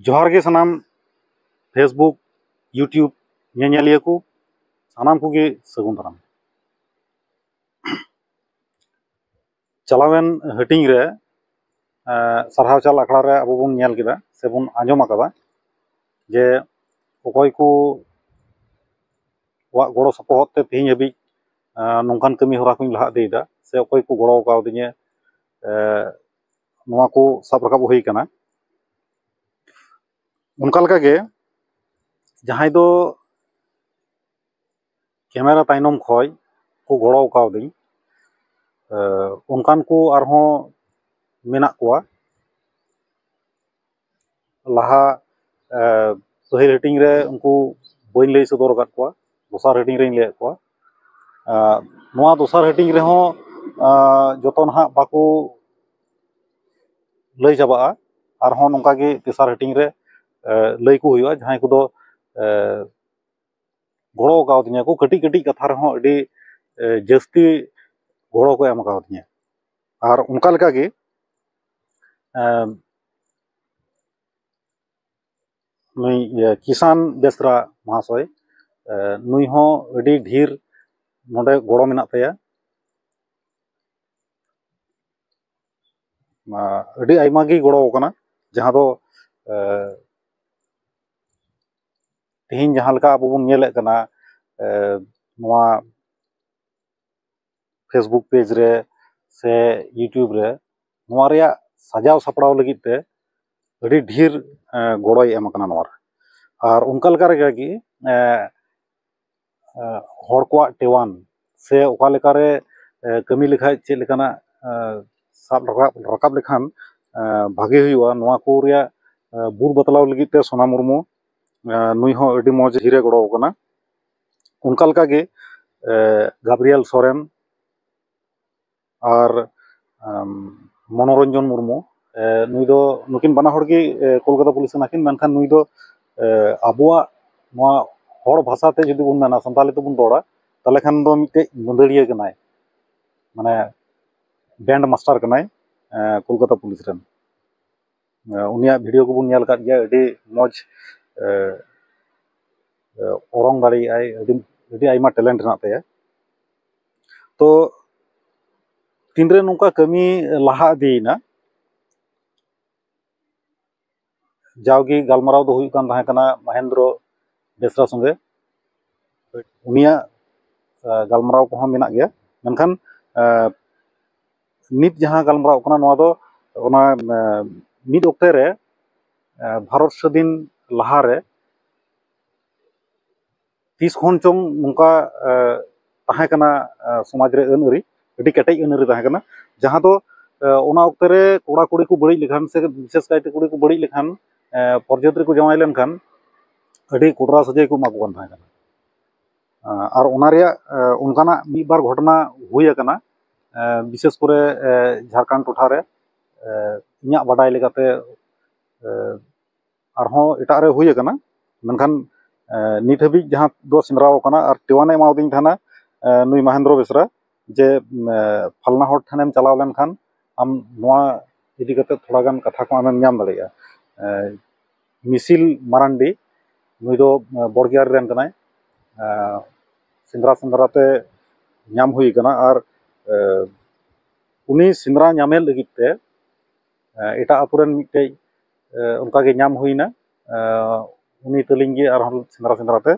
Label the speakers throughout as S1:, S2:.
S1: ᱡᱚᱦᱟᱨ ᱜᱮ ᱥᱟᱱᱟᱢ ᱯᱷᱮᱥᱵᱩᱠ ᱭᱩᱴᱤᱭᱩᱵᱽ ᱧᱮᱧᱮᱞᱤᱭᱟᱹ ᱠᱚ ᱥᱟᱱᱟᱢ ᱠᱚᱜᱮ ᱥᱟᱹᱜᱩᱱ ᱫᱟᱨᱟᱢ ᱪᱟᱞᱟᱣᱮᱱ ᱦᱟᱹᱴᱤᱧ ᱨᱮ ᱥᱟᱨᱦᱟᱣ ᱪᱟᱞ ᱟᱠᱷᱲᱟ ᱨᱮ ᱟᱵᱚ ᱵᱚᱱ ᱧᱮᱞ ᱠᱮᱫᱟ ᱥᱮ ᱵᱚᱱ ᱟᱸᱡᱚᱢ ᱟᱠᱟᱫᱟ ᱡᱮ ᱚᱠᱚᱭ ᱠᱚ ᱠᱚᱣᱟᱜ ᱜᱚᱲᱚ ᱥᱚᱯᱚᱦᱚᱫ ᱛᱮ ᱛᱮᱦᱮᱧ ᱦᱟᱹᱵᱤᱡ ᱱᱚᱝᱠᱟᱱ ᱠᱟᱹᱢᱤ ᱦᱚᱨᱟ ᱠᱚᱧ ᱞᱟᱦᱟ ᱤᱫᱤᱭᱮᱫᱟ ᱥᱮ ᱚᱠᱚᱭ ᱠᱚ ᱜᱚᱲᱚ ᱠᱟᱣᱫᱤᱧᱟ ᱱᱚᱣᱟ ᱠᱚ ᱥᱟᱵ ᱨᱟᱠᱟᱵ ᱦᱩᱭ ᱠᱟᱱᱟ ᱚᱱᱠᱟ ᱞᱮᱠᱟᱜᱮ ᱡᱟᱦᱟᱸᱭ ᱫᱚ ᱠᱮᱢᱮᱨᱟ ᱛᱟᱭᱱᱚᱢ ᱠᱷᱚᱡ ᱠᱚ ᱜᱚᱲᱚ ᱠᱟᱣᱫᱤᱧ ᱚᱱᱠᱟᱱ ᱠᱚ ᱟᱨᱦᱚᱸ ᱢᱮᱱᱟᱜ ᱠᱚᱣᱟ ᱞᱟᱦᱟ ᱯᱟᱹᱦᱤᱞ ᱦᱟᱹᱴᱤᱧ ᱨᱮ ᱩᱱᱠᱩ ᱵᱟᱹᱧ ᱞᱟᱹᱭ ᱥᱚᱫᱚᱨ ᱟᱠᱟᱫ ᱠᱚᱣᱟ ᱫᱚᱥᱟᱨ ᱦᱟᱹᱴᱤᱧ ᱨᱤᱧ ᱞᱟᱹᱭᱟᱫ ᱠᱚᱣᱟ ᱱᱚᱣᱟ ᱫᱚᱥᱟᱨ ᱦᱟᱹᱴᱤᱧ ᱨᱮᱦᱚᱸ ᱡᱚᱛᱚ ᱱᱟᱦᱟᱜ ᱵᱟᱠᱚ ᱞᱟᱹᱭ ᱪᱟᱵᱟᱜᱼᱟ ᱟᱨᱦᱚᱸ ᱱᱚᱝᱠᱟ ᱜᱮ ᱛᱮᱥᱟᱨ ᱦᱟᱹᱴᱤᱧ ᱨᱮ ᱞᱟᱹᱭ ᱟᱠᱚ ᱦᱩᱭᱩᱜᱼᱟ ᱡᱟᱦᱟᱸᱭ ᱠᱚᱫᱚ ᱜᱚᱲᱚ ᱠᱟᱣᱫᱤᱧᱟᱹ ᱠᱚ ᱠᱟᱹᱴᱤᱡ ᱠᱟᱹᱴᱤᱡ ᱠᱟᱛᱷᱟ ᱨᱮᱦᱚᱸ ᱟᱹᱰᱤ ᱡᱟᱹᱥᱛᱤ ᱜᱚᱲᱚ ᱠᱚ ᱮᱢ ᱠᱟᱣᱫᱤᱧᱟᱹ ᱟᱨ ᱚᱱᱠᱟ ᱞᱮᱠᱟᱜᱮ ᱱᱩᱭ ᱠᱤᱥᱟᱱ ᱵᱮᱥᱨᱟ ᱢᱚᱦᱟᱥᱚᱭ ᱱᱩᱭ ᱦᱚᱸ ᱟᱹᱰᱤ ᱰᱷᱮᱨ ᱱᱚᱰᱮ ᱜᱚᱲᱚ ᱢᱮᱱᱟᱜ ᱛᱟᱭᱟ ᱟᱹᱰᱤ ᱟᱭᱢᱟ ᱜᱮᱭ ᱜᱚᱲᱚ ᱟᱠᱟᱱᱟ ᱡᱟᱦᱟᱸ ᱫᱚ ᱛᱮᱦᱮᱧ ᱡᱟᱦᱟᱸ ᱞᱮᱠᱟ ᱟᱵᱚ ᱵᱚᱱ ᱧᱮᱞᱮᱫ ᱠᱟᱱᱟ ᱱᱚᱣᱟ ᱯᱷᱮᱥᱵᱩᱠ ᱯᱮᱡᱽ ᱨᱮ ᱥᱮ ᱤᱭᱩᱴᱩᱵᱽ ᱨᱮ ᱱᱚᱣᱟ ᱨᱮᱭᱟᱜ ᱥᱟᱡᱟᱣ ᱥᱟᱯᱲᱟᱣ ᱞᱟᱹᱜᱤᱫ ᱛᱮ ᱟᱹᱰᱤ ᱰᱷᱮᱨ ᱜᱚᱲᱚᱭ ᱮᱢ ᱠᱟᱱᱟ ᱱᱚᱣᱟ ᱨᱮ ᱟᱨ ᱚᱱᱠᱟ ᱞᱮᱠᱟ ᱨᱮᱜᱮ ᱟᱨᱠᱤ ᱦᱚᱲ ᱠᱚᱣᱟᱜ ᱴᱮᱣᱟᱱ ᱥᱮ ᱚᱠᱟ ᱞᱮᱠᱟ ᱨᱮ ᱠᱟᱹᱢᱤ ᱞᱮᱠᱷᱟᱱ ᱪᱮᱫ ᱞᱮᱠᱟᱱᱟᱜ ᱥᱟᱵ ᱨᱟᱠᱟᱵ ᱨᱟᱠᱟᱵ ᱞᱮᱠᱷᱟᱱ ᱵᱷᱟᱜᱮ ᱦᱩᱭᱩᱜᱼᱟ ᱱᱚᱣᱟ ᱠᱚ ᱨᱮᱭᱟᱜ ᱵᱩᱫᱷ ᱵᱟᱛᱞᱟᱣ ᱞᱟᱹᱜᱤᱫ ᱛᱮ ᱥᱳᱱᱟ ᱢᱩᱨᱢᱩ ᱱᱩᱭ ᱦᱚᱸ ᱟᱹᱰᱤ ᱢᱚᱡᱽ ᱰᱷᱮᱨᱮ ᱜᱚᱲᱚᱣ ᱠᱟᱱᱟ ᱚᱱᱠᱟ ᱞᱮᱠᱟᱜᱮ ᱜᱟᱵᱽᱨᱤᱭᱟᱞ ᱥᱚᱨᱮᱱ ᱟᱨ ᱢᱚᱱᱳᱨᱚᱧᱡᱚᱱ ᱢᱩᱨᱢᱩ ᱱᱩᱭ ᱫᱚ ᱱᱩᱠᱤᱱ ᱵᱟᱱᱟ ᱦᱚᱲ ᱜᱮ ᱠᱳᱞᱠᱟᱛᱟ ᱯᱩᱞᱤᱥ ᱠᱟᱱᱟ ᱠᱤᱱ ᱢᱮᱱᱠᱷᱟᱱ ᱱᱩᱭ ᱫᱚ ᱟᱵᱚᱣᱟᱜ ᱱᱚᱣᱟ ᱦᱚᱲ ᱵᱷᱟᱥᱟ ᱛᱮ ᱡᱩᱫᱤ ᱵᱚᱱ ᱢᱮᱱᱟ ᱥᱟᱱᱛᱟᱲᱤ ᱛᱮᱵᱚᱱ ᱨᱚᱲᱟ ᱛᱟᱦᱚᱞᱮ ᱠᱷᱟᱱ ᱫᱚ ᱢᱤᱫᱴᱮᱡ ᱢᱟᱹᱫᱟᱹᱲᱤᱭᱟᱹ ᱠᱟᱱᱟᱭ ᱢᱟᱱᱮ ᱵᱮᱱᱰ ᱢᱟᱥᱴᱟᱨ ᱠᱟᱱᱟᱭ ᱠᱳᱞᱠᱟᱛᱟ ᱯᱩᱞᱤᱥ ᱨᱮᱱ ᱩᱱᱤᱭᱟᱜ ᱵᱷᱤᱰᱭᱳ ᱠᱚᱵᱚᱱ ᱧᱮᱞ ᱠᱟᱜ ᱜᱮᱭᱟ ᱟᱹᱰᱤ ᱢᱚᱡᱽ ᱚᱨᱚᱝ ᱫᱟᱲᱮᱭᱟᱜᱼᱟᱭ ᱟᱹᱰᱤ ᱟᱭᱢᱟ ᱴᱮᱞᱮᱱᱴ ᱢᱮᱱᱟᱜ ᱛᱟᱭᱟ ᱛᱚ ᱛᱤᱱᱨᱮ ᱱᱚᱝᱠᱟ ᱠᱟᱹᱢᱤ ᱞᱟᱦᱟ ᱤᱫᱤᱭᱮᱱᱟ ᱡᱟᱣᱜᱮ ᱜᱟᱞᱢᱟᱨᱟᱣ ᱫᱚ ᱦᱩᱭᱩᱜ ᱠᱟᱱ ᱛᱟᱦᱮᱸ ᱠᱟᱱᱟ ᱢᱚᱦᱮᱱᱫᱨᱚ ᱵᱮᱥᱨᱟ ᱥᱚᱸᱜᱮ ᱩᱱᱤᱭᱟᱜ ᱜᱟᱞᱢᱟᱨᱟᱣ ᱠᱚᱦᱚᱸ ᱢᱮᱱᱟᱜ ᱜᱮᱭᱟ ᱢᱮᱱᱠᱷᱟᱱ ᱱᱤᱛ ᱡᱟᱦᱟᱸ ᱜᱟᱞᱢᱟᱨᱟᱣ ᱠᱟᱱᱟ ᱱᱚᱣᱟ ᱫᱚ ᱚᱱᱟ ᱢᱤᱫ ᱚᱠᱛᱮ ᱨᱮ ᱵᱷᱟᱨᱚᱛ ᱥᱟᱹᱫᱷᱤᱱ ᱞᱟᱦᱟ ᱨᱮ ᱛᱤᱥ ᱠᱷᱚᱱ ᱪᱚᱝ ᱱᱚᱝᱠᱟ ᱛᱟᱦᱮᱸ ᱠᱟᱱᱟ ᱥᱚᱢᱟᱡᱽ ᱨᱮ ᱟᱹᱱ ᱟᱹᱨᱤ ᱟᱹᱰᱤ ᱠᱮᱴᱮᱡ ᱟᱹᱱ ᱟᱹᱨᱤ ᱛᱟᱦᱮᱸ ᱠᱟᱱᱟ ᱡᱟᱦᱟᱸ ᱫᱚ ᱚᱱᱟ ᱚᱠᱛᱮ ᱨᱮ ᱠᱚᱲᱟ ᱠᱩᱲᱤ ᱠᱚ ᱵᱟᱹᱲᱤᱡ ᱞᱮᱠᱷᱟᱱ ᱥᱮ ᱵᱤᱥᱮᱥ ᱠᱟᱭᱛᱮ ᱠᱩᱲᱤ ᱠᱚ ᱵᱟᱹᱲᱤᱡ ᱞᱮᱠᱷᱟᱱ ᱯᱚᱨᱡᱟᱹᱛ ᱨᱮᱠᱚ ᱡᱟᱶᱟᱭ ᱞᱮᱱᱠᱷᱟᱱ ᱟᱹᱰᱤ ᱠᱚᱰᱨᱟ ᱥᱟᱹᱡᱟᱹᱭ ᱠᱚ ᱮᱢᱟ ᱠᱚ ᱠᱟᱱ ᱛᱟᱦᱮᱸ ᱠᱟᱱᱟ ᱟᱨ ᱚᱱᱟ ᱨᱮᱭᱟᱜ ᱚᱱᱠᱟᱱᱟᱜ ᱢᱤᱫ ᱵᱟᱨ ᱜᱷᱚᱴᱚᱱᱟ ᱦᱩᱭ ᱟᱠᱟᱱᱟ ᱵᱤᱥᱮᱥ ᱠᱚᱨᱮ ᱡᱷᱟᱲᱠᱷᱚᱸᱰ ᱴᱚᱴᱷᱟ ᱨᱮ ᱤᱧᱟᱹᱜ ᱵᱟᱰᱟᱭ ᱞᱮᱠᱟᱛᱮ ᱟᱨᱦᱚᱸ ᱮᱴᱟᱜ ᱨᱮ ᱦᱩᱭ ᱟᱠᱟᱱᱟ ᱢᱮᱱᱠᱷᱟᱱ ᱱᱤᱛ ᱦᱟᱹᱵᱤᱡ ᱡᱟᱦᱟᱸ ᱫᱚ ᱥᱮᱸᱫᱽᱨᱟ ᱟᱠᱟᱱᱟ ᱟᱨ ᱛᱮᱣᱟᱝ ᱮ ᱮᱢᱟᱣᱟᱫᱤᱧ ᱛᱟᱦᱮᱱᱟ ᱱᱩᱭ ᱢᱚᱦᱮᱱᱫᱨᱚ ᱵᱮᱥᱨᱟ ᱡᱮ ᱯᱷᱟᱞᱱᱟ ᱦᱚᱲ ᱴᱷᱮᱱᱮᱢ ᱪᱟᱞᱟᱣ ᱞᱮᱱᱠᱷᱟᱱ ᱟᱢ ᱱᱚᱣᱟ ᱤᱫᱤ ᱠᱟᱛᱮ ᱛᱷᱚᱲᱟ ᱜᱟᱱ ᱠᱟᱛᱷᱟ ᱠᱚ ᱟᱢᱮᱢ ᱧᱟᱢ ᱫᱟᱲᱮᱭᱟᱜᱼᱟ ᱢᱤᱥᱤᱞ ᱢᱟᱨᱟᱱᱰᱤ ᱱᱩᱭ ᱫᱚ ᱵᱚᱲᱜᱮᱭᱟᱨᱤ ᱨᱮᱱ ᱠᱟᱱᱟᱭ ᱥᱮᱸᱫᱽᱨᱟ ᱥᱮᱸᱫᱽᱨᱟ ᱛᱮ ᱧᱟᱢ ᱦᱩᱭ ᱠᱟᱱᱟ ᱟᱨ ᱩᱱᱤ ᱥᱮᱸᱫᱽᱨᱟ ᱧᱟᱢᱮ ᱞᱟᱹᱜᱤᱫ ᱛᱮ ᱮᱴᱟᱜ ᱟᱛᱳ ᱨᱮᱱ ᱢᱤᱫᱴᱮᱡ ᱚᱱᱠᱟ ᱜᱮ ᱧᱟᱢ ᱦᱩᱭᱮᱱᱟ ᱩᱱᱤ ᱛᱟᱹᱞᱤᱧ ᱜᱮ ᱟᱨᱦᱚᱸ ᱥᱮᱸᱫᱽᱨᱟ ᱥᱮᱸᱫᱽᱨᱟ ᱛᱮ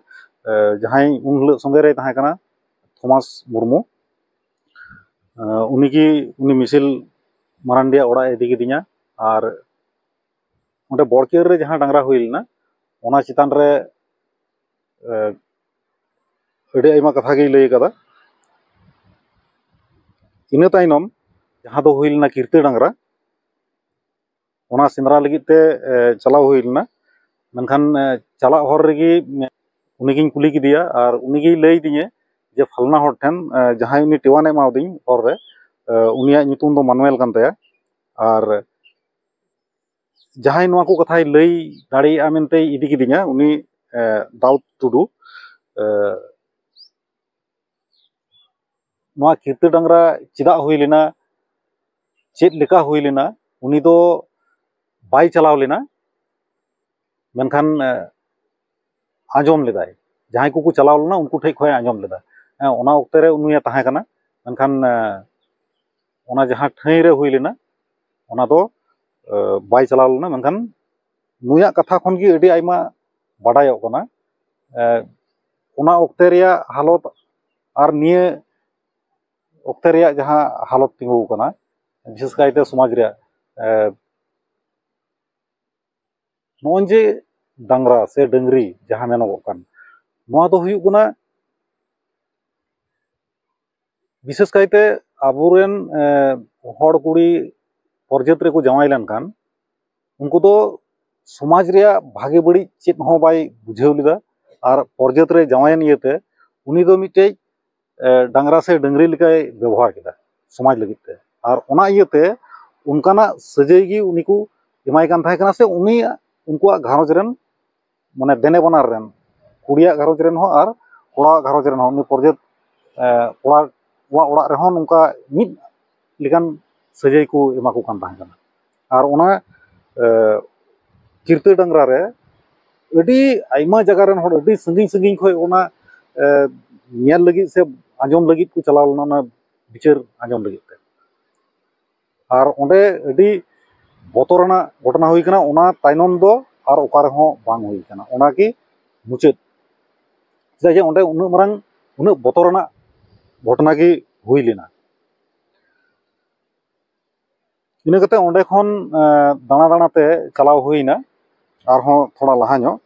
S1: ᱡᱟᱦᱟᱸᱭ ᱩᱱ ᱦᱤᱞᱳᱜ ᱥᱚᱸᱜᱮ ᱨᱮᱭ ᱛᱟᱦᱮᱸ ᱠᱟᱱᱟ ᱛᱷᱚᱢᱟᱥ ᱢᱩᱨᱢᱩ ᱩᱱᱤ ᱜᱮ ᱩᱱᱤ ᱢᱤᱥᱮᱞ ᱢᱟᱨᱟᱱᱰᱤᱭᱟᱜ ᱚᱲᱟᱜ ᱮ ᱤᱫᱤ ᱠᱤᱫᱤᱧᱟ ᱟᱨ ᱚᱸᱰᱮ ᱵᱚᱲᱠᱤᱭᱟᱹᱨ ᱨᱮ ᱡᱟᱦᱟᱸ ᱰᱟᱝᱨᱟ ᱦᱩᱭ ᱞᱮᱱᱟ ᱚᱱᱟ ᱪᱮᱛᱟᱱ ᱨᱮ ᱟᱹᱰᱤ ᱟᱭᱢᱟ ᱠᱟᱛᱷᱟ ᱜᱮᱭ ᱞᱟᱹᱭ ᱠᱟᱫᱟ ᱤᱱᱟᱹ ᱛᱟᱭᱱᱚᱢ ᱡᱟᱦᱟᱸ ᱫᱚ ᱦᱩᱭ ᱞᱮᱱᱟ ᱠᱤᱨᱛᱟᱹ ᱰᱟᱝᱨᱟ ᱚᱱᱟ ᱥᱮᱸᱫᱽᱨᱟ ᱞᱟᱹᱜᱤᱫ ᱛᱮ ᱪᱟᱞᱟᱣ ᱦᱩᱭ ᱞᱮᱱᱟ ᱢᱮᱱᱠᱷᱟᱱ ᱪᱟᱞᱟᱜ ᱦᱚᱨ ᱨᱮᱜᱮ ᱩᱱᱤᱜᱤᱧ ᱠᱩᱞᱤ ᱠᱮᱫᱮᱭᱟ ᱟᱨ ᱩᱱᱤᱜᱮᱭ ᱞᱟᱹᱭ ᱟᱫᱤᱧᱟ ᱡᱮ ᱯᱷᱟᱞᱱᱟ ᱦᱚᱲ ᱴᱷᱮᱱ ᱡᱟᱦᱟᱸᱭ ᱩᱱᱤ ᱴᱮᱣᱟᱱᱮ ᱮᱢᱟᱣᱟᱫᱤᱧ ᱦᱚᱨ ᱨᱮ ᱩᱱᱤᱭᱟᱜ ᱧᱩᱛᱩᱢ ᱫᱚ ᱢᱟᱱᱩᱭᱮᱞ ᱠᱟᱱ ᱛᱟᱭᱟ ᱟᱨ ᱡᱟᱦᱟᱸᱭ ᱱᱚᱣᱟ ᱠᱚ ᱠᱟᱛᱷᱟᱭ ᱞᱟᱹᱭ ᱫᱟᱲᱮᱭᱟᱜᱼᱟ ᱢᱮᱱᱛᱮ ᱤᱫᱤ ᱠᱤᱫᱤᱧᱟ ᱩᱱᱤ ᱫᱟᱣᱩᱫ ᱴᱩᱰᱩ ᱱᱚᱣᱟ ᱠᱤᱨᱛᱟᱹ ᱰᱟᱝᱜᱽᱨᱟ ᱪᱮᱫᱟᱜ ᱦᱩᱭ ᱞᱮᱱᱟ ᱪᱮᱫ ᱞᱮᱠᱟ ᱦᱩᱭ ᱞᱮᱱᱟ ᱩᱱᱤ ᱫᱚ ᱵᱟᱭ ᱪᱟᱞᱟᱣ ᱞᱮᱱᱟ ᱢᱮᱱᱠᱷᱟᱱ ᱟᱸᱡᱚᱢ ᱞᱮᱫᱟᱭ ᱡᱟᱦᱟᱸᱭ ᱠᱚᱠᱚ ᱪᱟᱞᱟᱣ ᱞᱮᱱᱟ ᱩᱱᱠᱩ ᱴᱷᱮᱱ ᱠᱷᱚᱱᱮ ᱟᱸᱡᱚᱢ ᱞᱮᱫᱟ ᱚᱱᱟ ᱚᱠᱛᱮ ᱨᱮ ᱩᱱᱤᱭ ᱛᱟᱦᱮᱸᱠᱟᱱᱟ ᱢᱮᱱᱠᱷᱟᱱ ᱚᱱᱟ ᱡᱟᱦᱟᱸ ᱴᱷᱟᱹᱭ ᱨᱮ ᱦᱩᱭ ᱞᱮᱱᱟ ᱚᱱᱟ ᱫᱚ ᱵᱟᱭ ᱪᱟᱞᱟᱣ ᱞᱮᱱᱟ ᱢᱮᱱᱠᱷᱟᱱ ᱱᱩᱭᱟᱜ ᱠᱟᱛᱷᱟ ᱠᱷᱚᱱ ᱜᱮ ᱟᱹᱰᱤ ᱟᱭᱢᱟ ᱵᱟᱰᱟᱭᱚᱜ ᱠᱟᱱᱟ ᱚᱱᱟ ᱚᱠᱛᱮ ᱨᱮᱭᱟᱜ ᱦᱟᱞᱚᱛ ᱟᱨ ᱱᱤᱭᱟᱹ ᱚᱠᱛᱮ ᱨᱮᱭᱟᱜ ᱡᱟᱦᱟᱸ ᱦᱟᱞᱚᱛ ᱛᱤᱸᱜᱩ ᱟᱠᱟᱱᱟ ᱵᱤᱥᱮᱥ ᱠᱟᱭᱛᱮ ᱥᱚᱢᱟᱡᱽ ᱨᱮᱭᱟᱜ ᱱᱚᱜᱼᱚᱭ ᱡᱮ ᱰᱟᱝᱨᱟ ᱥᱮ ᱰᱟᱹᱝᱨᱤ ᱡᱟᱦᱟᱸ ᱢᱮᱱᱚᱜᱚᱜ ᱠᱟᱱ ᱱᱚᱣᱟ ᱫᱚ ᱦᱩᱭᱩᱜ ᱠᱟᱱᱟ ᱵᱤᱥᱮᱥ ᱠᱟᱭᱛᱮ ᱟᱵᱚᱨᱮᱱ ᱦᱚᱲ ᱠᱩᱲᱤ ᱚᱨᱡᱟᱹᱛ ᱨᱮᱠᱚ ᱡᱟᱶᱟᱭ ᱞᱮᱱᱠᱷᱟᱱ ᱩᱱᱠᱩ ᱫᱚ ᱥᱚᱢᱟᱡᱽ ᱨᱮᱭᱟᱜ ᱵᱷᱟᱜᱮ ᱵᱟᱹᱲᱤᱡ ᱪᱮᱫ ᱦᱚᱸ ᱵᱟᱭ ᱵᱩᱡᱷᱟᱹᱣ ᱞᱮᱫᱟ ᱟᱨ ᱚᱨᱡᱟᱹᱛ ᱨᱮ ᱡᱟᱶᱟᱭᱮᱱ ᱤᱭᱟᱹᱛᱮ ᱩᱱᱤ ᱫᱚ ᱢᱤᱫᱴᱮᱡ ᱰᱟᱝᱨᱟ ᱥᱮ ᱰᱟᱹᱝᱨᱤ ᱞᱮᱠᱟᱭ ᱵᱮᱵᱚᱦᱟᱨ ᱠᱮᱫᱟ ᱥᱚᱢᱟᱡᱽ ᱞᱟᱹᱜᱤᱫ ᱛᱮ ᱟᱨ ᱚᱱᱟ ᱤᱭᱟᱹᱛᱮ ᱚᱱᱠᱟᱱᱟᱜ ᱥᱟᱹᱡᱟᱹᱭ ᱜᱮ ᱩᱱᱤ ᱠᱚ ᱮᱢᱟᱭ ᱠᱟᱱ ᱛᱟᱦᱮᱸ ᱠᱟᱱᱟ ᱥᱮ ᱩᱱᱤᱭᱟᱜ ᱩᱱᱠᱩᱣᱟᱜ ᱜᱷᱟᱨᱚᱸᱡᱽ ᱨᱮᱱ ᱢᱟᱱᱮ ᱫᱮᱱᱮ ᱵᱟᱱᱟᱨ ᱨᱮᱱ ᱠᱩᱲᱤᱭᱟᱜ ᱜᱷᱟᱨᱚᱸᱡᱽ ᱨᱮᱱ ᱦᱚᱸ ᱟᱨ ᱠᱚᱲᱟᱣᱟᱜ ᱜᱷᱟᱨᱚᱸᱡᱽ ᱨᱮᱱ ᱦᱚᱸ ᱩᱱᱤ ᱯᱨᱚᱡᱮᱛ ᱠᱚᱲᱟᱣᱟᱜ ᱚᱲᱟᱜ ᱨᱮᱦᱚᱸ ᱱᱚᱝᱠᱟ ᱢᱤᱫ ᱞᱮᱠᱟᱱ ᱥᱟᱹᱡᱟᱹᱭ ᱠᱚ ᱮᱢᱟ ᱠᱚ ᱠᱟᱱ ᱛᱟᱦᱮᱸ ᱠᱟᱱᱟ ᱟᱨ ᱚᱱᱟ ᱠᱤᱨᱛᱟᱹ ᱰᱟᱝᱨᱟ ᱨᱮ ᱟᱹᱰᱤ ᱟᱭᱢᱟ ᱡᱟᱭᱜᱟ ᱨᱮᱱ ᱦᱚᱲ ᱟᱹᱰᱤ ᱥᱟᱺᱜᱤᱧ ᱥᱟᱺᱜᱤᱧ ᱠᱷᱚᱱ ᱚᱱᱟ ᱧᱮᱞ ᱞᱟᱹᱜᱤᱫ ᱥᱮ ᱟᱸᱡᱚᱢ ᱞᱟᱹᱜᱤᱫ ᱠᱚ ᱪᱟᱞᱟᱣ ᱞᱮᱱᱟ ᱚᱱᱟ ᱵᱤᱪᱟᱹᱨ ᱟᱸᱡᱚᱢ ᱞᱟᱹᱜᱤᱫ ᱛᱮ ᱟᱨ ᱚᱸᱰᱮ ᱟᱹᱰᱤ ᱵᱚᱛᱚᱨᱟᱱᱟᱜ ᱜᱷᱚᱴᱚᱱᱟ ᱦᱩᱭ ᱠᱟᱱᱟ ᱚᱱᱟ ᱛᱟᱭᱱᱚᱢ ᱫᱚ ᱟᱨ ᱚᱠᱟ ᱨᱮᱦᱚᱸ ᱵᱟᱝ ᱦᱩᱭ ᱠᱟᱱᱟ ᱚᱱᱟ ᱜᱮ ᱢᱩᱪᱟᱹᱫ ᱪᱮᱫᱟᱜ ᱡᱮ ᱚᱸᱰᱮ ᱩᱱᱟᱹᱜ ᱢᱟᱨᱟᱝ ᱩᱱᱟᱹᱜ ᱵᱚᱛᱚᱨᱟᱱᱟᱜ ᱜᱷᱚᱴᱚᱱᱟ ᱜᱮ ᱦᱩᱭ ᱞᱮᱱᱟ ᱤᱱᱟᱹ ᱠᱟᱛᱮ ᱚᱸᱰᱮ ᱠᱷᱚᱱ ᱫᱟᱬᱟ ᱫᱟᱬᱟ ᱛᱮ ᱪᱟᱞᱟᱣ ᱦᱩᱭᱮᱱᱟ ᱟᱨᱦᱚᱸ ᱛᱷᱚᱲᱟ ᱞᱟᱦᱟ ᱧᱚᱜ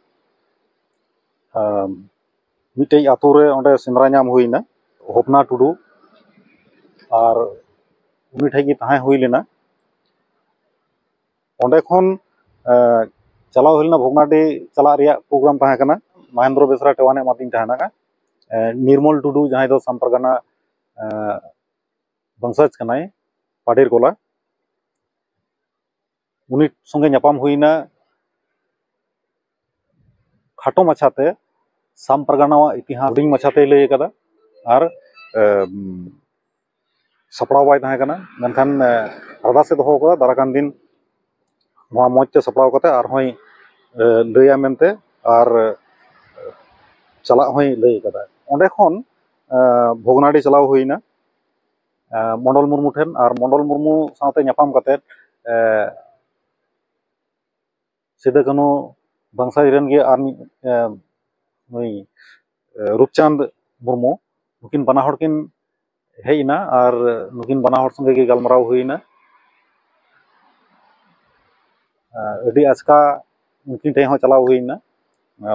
S1: ᱢᱤᱫᱴᱮᱡ ᱟᱹᱛᱩ ᱨᱮ ᱚᱸᱰᱮ ᱥᱮᱸᱫᱽᱨᱟ ᱧᱟᱢ ᱦᱩᱭ ᱮᱱᱟ ᱦᱚᱯᱱᱟ ᱴᱩᱰᱩ ᱟᱨ ᱩᱱᱤ ᱴᱷᱮᱡ ᱜᱮ ᱛᱟᱦᱮᱸ ᱦᱩᱭ ᱞᱮᱱᱟ ᱚᱸᱰᱮ ᱠᱷᱚᱱ ᱪᱟᱞᱟᱣ ᱦᱩᱭ ᱞᱮᱱᱟ ᱵᱷᱚᱜᱽᱱᱟᱰᱤ ᱪᱟᱞᱟᱜ ᱨᱮᱭᱟᱜ ᱯᱨᱳᱜᱨᱟᱢ ᱛᱟᱦᱮᱸ ᱠᱟᱱᱟ ᱢᱚᱦᱮᱱᱫᱨᱚ ᱵᱮᱥᱨᱟ ᱴᱮᱣᱟᱱᱮ ᱮᱢᱟᱫᱤᱧ ᱛᱟᱦᱮᱱᱟ ᱱᱤᱨᱢᱚᱞ ᱴᱩᱰᱩ ᱡᱟᱦᱟᱸᱭ ᱫᱚ ᱥᱟᱢ ᱯᱟᱨᱜᱟᱱᱟ ᱵᱚᱝᱥᱚᱡᱽ ᱠᱟᱱᱟᱭ ᱯᱟᱰᱮᱨ ᱜᱚᱞᱟ ᱩᱱᱤ ᱥᱚᱸᱜᱮ ᱧᱟᱯᱟᱢ ᱦᱩᱭ ᱮᱱᱟ ᱠᱷᱟᱴᱚ ᱢᱟᱪᱷᱟ ᱛᱮ ᱥᱟᱢ ᱯᱟᱨᱜᱟᱱᱟᱣᱟᱜ ᱤᱛᱤᱦᱟᱥ ᱦᱩᱰᱤᱧ ᱢᱟᱪᱷᱟ ᱛᱮᱭ ᱞᱟᱹᱭ ᱟᱠᱟᱫᱟ ᱟᱨ ᱥᱟᱯᱲᱟᱣ ᱵᱟᱭ ᱛᱟᱦᱮᱸ ᱠᱟᱱᱟ ᱢᱮᱱᱠᱷᱟᱱ ᱟᱨᱫᱟᱥᱮ ᱫᱚᱦᱚ ᱟᱠᱟᱫᱟ ᱫᱟᱨᱟᱭ ᱠᱟᱱ ᱫᱤᱱ ᱱᱚᱣᱟ ᱢᱚᱡᱽ ᱛᱮ ᱥᱟᱯᱲᱟᱣ ᱠᱟᱛᱮ ᱟᱨ ᱦᱚᱸᱭ ᱞᱟᱹᱭᱟ ᱢᱮᱱᱛᱮ ᱟᱨ ᱪᱟᱞᱟᱜ ᱦᱚᱸᱭ ᱞᱟᱹᱭ ᱟᱠᱟᱫᱟ ᱚᱸᱰᱮ ᱠᱷᱚᱱ ᱵᱷᱚᱜᱽᱱᱟᱰᱤ ᱪᱟᱞᱟᱣ ᱦᱩᱭ ᱮᱱᱟ ᱢᱚᱱᱰᱚᱞ ᱢᱩᱨᱢᱩ ᱴᱷᱮᱱ ᱟᱨ ᱢᱚᱱᱰᱚᱞ ᱢᱩᱨᱢᱩ ᱥᱟᱶᱛᱮ ᱧᱟᱯᱟᱢ ᱠᱟᱛᱮ ᱥᱤᱫᱩ ᱠᱟᱹᱱᱩ ᱵᱚᱝᱥᱚᱡᱽ ᱨᱮᱱ ᱜᱮ ᱟᱨ ᱢᱤᱫ ᱱᱩᱭ ᱨᱩᱯᱪᱟᱸᱫᱽ ᱢᱩᱨᱢᱩ ᱱᱩᱠᱤᱱ ᱵᱟᱱᱟ ᱦᱚᱲ ᱠᱤᱱ ᱦᱮᱡ ᱮᱱᱟ ᱟᱨ ᱱᱩᱠᱤᱱ ᱵᱟᱱᱟ ᱦᱚᱲ ᱥᱚᱸᱜᱮ ᱜᱮ ᱜᱟᱞᱢᱟᱨᱟᱣ ᱦᱩᱭᱱᱟ ᱟᱹᱰᱤ ᱟᱪᱠᱟ ᱩᱱᱠᱤᱱ ᱴᱷᱮᱱ ᱦᱚᱸ ᱪᱟᱞᱟᱣ ᱦᱩᱭᱱᱟ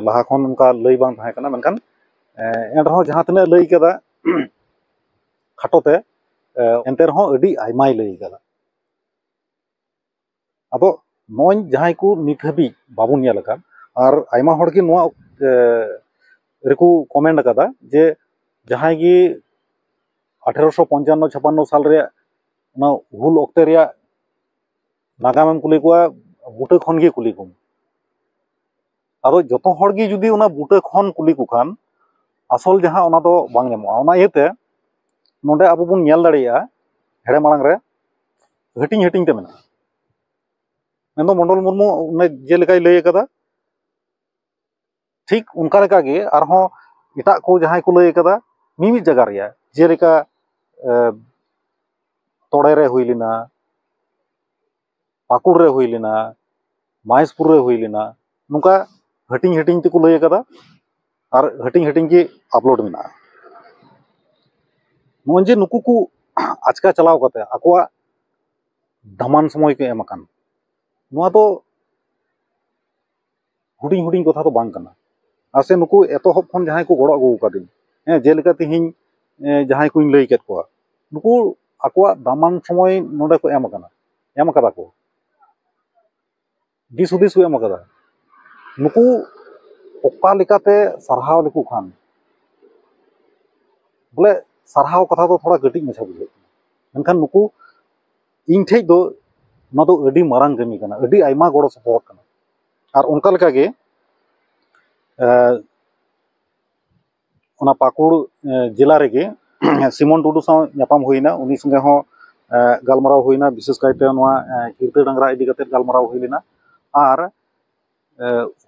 S1: ᱞᱟᱦᱟ ᱠᱷᱚᱱ ᱚᱱᱠᱟ ᱞᱟᱹᱭ ᱵᱟᱝ ᱛᱟᱦᱮᱸ ᱠᱟᱱᱟ ᱢᱮᱱᱠᱷᱟᱱ ᱮᱱ ᱨᱮᱦᱚᱸ ᱡᱟᱦᱟᱸ ᱛᱤᱱᱟᱹᱜ ᱞᱟᱹᱭ ᱠᱟᱫᱟ ᱠᱷᱟᱴᱚ ᱛᱮ ᱮᱱᱛᱮ ᱨᱮᱦᱚᱸ ᱟᱹᱰᱤ ᱟᱭᱢᱟᱭ ᱞᱟᱹᱭ ᱠᱟᱫᱟ ᱟᱫᱚ ᱱᱚᱜᱼᱚᱭ ᱡᱟᱦᱟᱸᱭ ᱠᱚ ᱱᱤᱛ ᱦᱟᱹᱵᱤᱡ ᱵᱟᱵᱚᱱ ᱧᱮᱞ ᱟᱠᱟᱫ ᱟᱨ ᱟᱭᱢᱟ ᱦᱚᱲ ᱜᱮ ᱱᱚᱣᱟ ᱨᱮᱠᱚ ᱠᱚᱢᱮᱱᱴ ᱟᱠᱟᱫᱟ ᱡᱮ ᱡᱟᱦᱟᱸᱭ ᱜᱮ ᱟᱴᱷᱮᱨᱚᱥᱚ ᱯᱚᱧᱪᱟᱱᱱᱚ ᱪᱷᱟᱯᱟᱱᱱᱚ ᱥᱟᱞ ᱨᱮᱭᱟᱜ ᱚᱱᱟ ᱦᱩᱞ ᱚᱠᱛᱮ ᱨᱮᱭᱟᱜ ᱱᱟᱜᱟᱢᱮᱢ ᱠᱩᱞᱤ ᱠᱚᱣᱟ ᱵᱩᱴᱟᱹ ᱠᱷᱚᱱ ᱜᱮ ᱠᱩᱞᱤ ᱠᱚᱢ ᱟᱫᱚ ᱡᱚᱛᱚ ᱦᱚᱲ ᱜᱮ ᱡᱩᱫᱤ ᱚᱱᱟ ᱵᱩᱴᱟᱹ ᱠᱷᱚᱱ ᱠᱩᱞᱤ ᱠᱚ ᱠᱷᱟᱱ ᱟᱥᱚᱞ ᱡᱟᱦᱟᱸ ᱚᱱᱟ ᱫᱚ ᱵᱟᱝ ᱧᱟᱢᱚᱜᱼᱟ ᱚᱱᱟ ᱤᱭᱟᱹᱛᱮ ᱱᱚᱸᱰᱮ ᱟᱵᱚ ᱵᱚᱱ ᱧᱮᱞ ᱫᱟᱲᱮᱭᱟᱜᱼᱟ ᱦᱮᱲᱮ ᱢᱟᱲᱟᱝ ᱨᱮ ᱦᱟᱹᱴᱤᱧ ᱦᱟᱹᱴᱤᱧ ᱛᱮ ᱢᱮᱱᱟᱜᱼᱟ ᱢᱮᱱᱫᱚ ᱢᱚᱱᱰᱚᱞ ᱢᱩᱨᱢᱩ ᱚᱱᱮ ᱡᱮᱞᱮᱠᱟᱭ ᱞᱟᱹᱭ ᱠᱟᱫᱟ ᱴᱷᱤᱠ ᱚᱱᱠᱟ ᱞᱮᱠᱟᱜᱮ ᱟᱨᱦᱚᱸ ᱮᱴᱟᱜ ᱠᱚ ᱡᱟᱦᱟᱸᱭ ᱠᱚ ᱞᱟᱹᱭ ᱠᱟᱫᱟ ᱢᱤᱢᱤᱫ ᱡᱟᱭᱜᱟ ᱨᱮᱭᱟᱜ ᱡᱮᱞᱮᱠᱟ ᱛᱚᱲᱮ ᱨᱮ ᱦᱩᱭ ᱞᱮᱱᱟ ᱯᱟᱹᱠᱩᱲ ᱨᱮ ᱦᱩᱭ ᱞᱮᱱᱟ ᱢᱚᱦᱮᱥᱯᱩᱨ ᱨᱮ ᱦᱩᱭ ᱞᱮᱱᱟ ᱱᱚᱝᱠᱟ ᱦᱟᱹᱴᱤᱧ ᱦᱟᱹᱴᱤᱧ ᱛᱮᱠᱚ ᱞᱟᱹᱭ ᱠᱟᱫᱟ ᱟᱨ ᱦᱟᱹᱴᱤᱧ ᱦᱟᱹᱴᱤᱧ ᱜᱮ ᱟᱯᱞᱳᱰ ᱢᱮᱱᱟᱜᱼᱟ ᱱᱚᱜᱼᱚᱭ ᱡᱮ ᱱᱩᱠᱩ ᱠᱚ ᱟᱪᱠᱟ ᱪᱟᱞᱟᱣ ᱠᱟᱛᱮ ᱟᱠᱚᱣᱟᱜ ᱫᱟᱢᱟᱱ ᱥᱚᱢᱚᱭ ᱠᱚ ᱮᱢ ᱟᱠᱟᱱ ᱱᱚᱣᱟ ᱫᱚ ᱦᱩᱰᱤᱧ ᱦᱩᱰᱤᱧ ᱠᱟᱛᱷᱟ ᱫᱚ ᱵᱟᱝ ᱠᱟᱱᱟ ᱟᱨ ᱥᱮ ᱱᱩᱠᱩ ᱮᱛᱚᱦᱚᱵ ᱠᱷᱚᱱ ᱡᱟᱦᱟᱸᱭ ᱠᱚ ᱜᱚᱲᱚ ᱟᱹᱜᱩ ᱟᱠᱟᱫᱤᱧ ᱦᱮᱸ ᱡᱮᱞᱮᱠᱟ ᱛᱤᱦᱤᱧ ᱡᱟᱦᱟᱸᱭ ᱠᱚᱧ ᱞᱟᱹᱭ ᱠᱮᱫ ᱠᱚᱣᱟ ᱱᱩᱠᱩ ᱟᱠᱚᱣᱟᱜ ᱫᱟᱢᱟᱱ ᱥᱚᱢᱚᱭ ᱱᱚᱰᱮ ᱠᱚ ᱮᱢ ᱟᱠᱟᱱᱟ ᱮᱢ ᱠᱟᱫᱟ ᱠᱚ ᱫᱤᱥ ᱦᱩᱫᱤᱥ ᱠᱚ ᱮᱢ ᱠᱟᱫᱟ ᱱᱩᱠᱩ ᱚᱠᱟ ᱞᱮᱠᱟᱛᱮ ᱥᱟᱨᱦᱟᱣ ᱞᱮᱠᱚ ᱠᱷᱟᱱ ᱵᱚᱞᱮ ᱥᱟᱨᱦᱟᱣ ᱠᱟᱛᱷᱟ ᱫᱚ ᱛᱷᱚᱲᱟ ᱠᱟᱹᱴᱤᱡ ᱢᱟᱪᱷᱟ ᱵᱩᱡᱷᱟᱹᱜ ᱠᱟᱱᱟ ᱢᱮᱱᱠᱷᱟᱱ ᱱᱩᱠᱩ ᱤᱧ ᱴᱷᱮᱡ ᱫᱚ ᱱᱚᱣᱟ ᱫᱚ ᱟᱹᱰᱤ ᱢᱟᱨᱟᱝ ᱠᱟᱹᱢᱤ ᱠᱟᱱᱟ ᱟᱹᱰᱤ ᱟᱭᱢᱟ ᱜᱚᱲᱚ ᱥᱚᱯᱚᱦᱚᱫ ᱠᱟᱱᱟ ᱟᱨ ᱚᱱᱠᱟ ᱞᱮᱠᱟᱜᱮ ᱚᱱᱟ ᱯᱟᱹᱠᱩᱲ ᱡᱮᱞᱟ ᱨᱮᱜᱮ ᱥᱤᱢᱚᱱ ᱴᱩᱰᱩ ᱥᱟᱶ ᱧᱟᱯᱟᱢ ᱦᱩᱭᱮᱱᱟ ᱩᱱᱤ ᱥᱚᱸᱜᱮ ᱦᱚᱸ ᱜᱟᱞᱢᱟᱨᱟᱣ ᱦᱩᱭᱮᱱᱟ ᱵᱤᱥᱮᱥ ᱠᱟᱭᱛᱮ ᱱᱚᱣᱟ ᱠᱤᱨᱛᱟᱹ ᱰᱟᱝᱨᱟ ᱤᱫᱤ ᱠᱟᱛᱮ ᱜᱟᱞᱢᱟᱨᱟᱣ ᱦᱩᱭ ᱞᱮᱱᱟ ᱟᱨ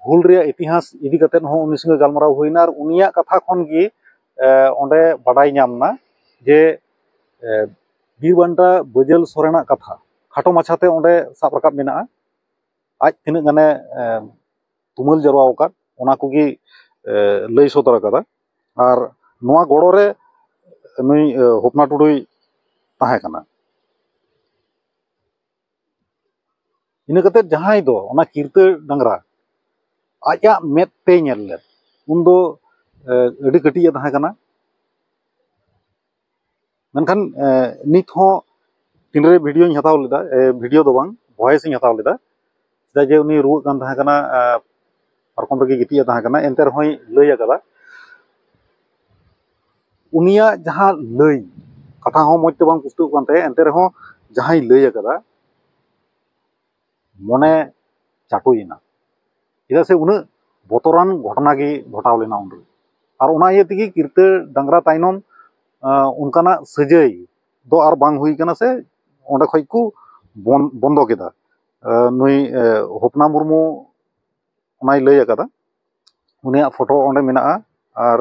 S1: ᱦᱩᱞ ᱨᱮᱭᱟᱜ ᱤᱛᱤᱦᱟᱥ ᱤᱫᱤ ᱠᱟᱛᱮ ᱦᱚᱸ ᱩᱱᱤ ᱥᱚᱸᱜᱮ ᱜᱟᱞᱢᱟᱨᱟᱣ ᱦᱩᱭᱮᱱᱟ ᱟᱨ ᱩᱱᱤᱭᱟᱜ ᱠᱟᱛᱷᱟ ᱠᱷᱚᱱ ᱜᱮ ᱚᱸᱰᱮ ᱵᱟᱰᱟᱭ ᱧᱟᱢ ᱮᱱᱟ ᱡᱮ ᱵᱤᱨ ᱵᱟᱱᱴᱟ ᱵᱟᱹᱡᱟᱹᱞ ᱥᱚᱨᱮᱱᱟᱜ ᱠᱟᱛᱷᱟ ᱠᱷᱟᱴᱚ ᱢᱟᱪᱷᱟᱛᱮ ᱚᱸᱰᱮ ᱥᱟᱵ ᱨᱟᱠᱟᱵ ᱢᱮᱱᱟᱜᱼᱟ ᱟᱡ ᱛᱤᱱᱟᱹᱜ ᱜᱟᱱᱮ ᱛᱩᱢᱟᱹᱞ ᱡᱟᱨᱣᱟ ᱟᱠᱟᱫ ᱚᱱᱟ ᱠᱚᱜᱮ ᱞᱟᱹᱭ ᱥᱚᱫᱚᱨ ᱟᱠᱟᱫᱟ ᱟᱨ ᱱᱚᱣᱟ ᱜᱚᱲᱚ ᱨᱮ ᱱᱩᱭ ᱦᱚᱯᱱᱟ ᱴᱩᱰᱩᱭ ᱛᱟᱦᱮᱸ ᱠᱟᱱᱟ ᱤᱱᱟᱹ ᱠᱟᱛᱮ ᱡᱟᱦᱟᱸᱭ ᱫᱚ ᱚᱱᱟ ᱠᱤᱨᱛᱟᱹ ᱰᱟᱝᱨᱟ ᱟᱡᱟᱜ ᱢᱮᱫ ᱛᱮᱭ ᱧᱮᱞ ᱞᱮᱫ ᱩᱱᱫᱚ ᱟᱹᱰᱤ ᱠᱟᱹᱴᱤᱡ ᱮ ᱛᱟᱦᱮᱸ ᱠᱟᱱᱟ ᱢᱮᱱᱠᱷᱟᱱ ᱱᱤᱛ ᱦᱚᱸ ᱛᱤᱱᱨᱮ ᱵᱷᱤᱰᱤᱭᱳᱧ ᱦᱟᱛᱟᱣ ᱞᱮᱫᱟ ᱵᱷᱤᱰᱤᱭᱳ ᱫᱚ ᱵᱟᱝ ᱵᱷᱚᱭᱮᱥ ᱤᱧ ᱦᱟᱛᱟᱣ ᱞᱮᱫᱟ ᱪᱮᱫᱟᱜ ᱡᱮ ᱩᱱᱤ ᱨᱩᱣᱟᱹᱜ ᱠᱟᱱ ᱛᱟᱦᱮᱸ ᱠᱟᱱᱟ ᱯᱟᱨᱠᱚᱢ ᱨᱮᱜᱮ ᱜᱤᱛᱤᱡ ᱮ ᱛᱟᱦᱮᱸ ᱠᱟᱱᱟ ᱮᱱᱛᱮ ᱨᱮᱦᱚᱸᱭ ᱞᱟᱹᱭ ᱟᱠᱟᱫᱟ ᱩᱱᱤᱭᱟᱜ ᱡᱟᱦᱟᱸ ᱞᱟᱹᱭ ᱠᱟᱛᱷᱟ ᱦᱚᱸ ᱢᱚᱡᱽ ᱛᱮ ᱵᱟᱝ ᱯᱩᱥᱴᱟᱹᱜ ᱠᱟᱱ ᱛᱟᱭᱟ ᱮᱱᱛᱮ ᱨᱮᱦᱚᱸ ᱡᱟᱦᱟᱸᱭ ᱞᱟᱹᱭ ᱟᱠᱟᱫᱟ ᱢᱚᱱᱮ ᱪᱟᱴᱚᱭᱮᱱᱟ ᱪᱮᱫᱟᱜ ᱥᱮ ᱩᱱᱟᱹᱜ ᱵᱚᱛᱚᱨᱟᱱ ᱜᱷᱚᱴᱚᱱᱟ ᱜᱮ ᱜᱷᱚᱴᱟᱣ ᱞᱮᱱᱟ ᱩᱱᱨᱮ ᱟᱨ ᱚᱱᱟ ᱤᱭᱟᱹ ᱛᱮᱜᱮ ᱠᱤᱨᱛᱟᱹ ᱰᱟᱝᱨᱟ ᱛᱟᱭᱱᱚᱢ ᱚᱱᱠᱟᱱᱟᱜ ᱥᱟᱹᱡᱟᱹᱭ ᱫᱚ ᱟᱨ ᱵᱟᱝ ᱦᱩᱭ ᱠᱟᱱᱟ ᱥᱮ ᱚᱸᱰᱮ ᱠᱷᱚᱡ ᱠᱚ ᱵᱚᱱᱫᱚ ᱠᱮᱫᱟ ᱱᱩᱭ ᱦᱚᱯᱱᱟ ᱢᱩᱨᱢᱩ ᱚᱱᱟᱭ ᱞᱟᱹᱭ ᱟᱠᱟᱫᱟ ᱩᱱᱤᱭᱟᱜ ᱯᱷᱳᱴᱳ ᱚᱸᱰᱮ ᱢᱮᱱᱟᱜᱼᱟ ᱟᱨ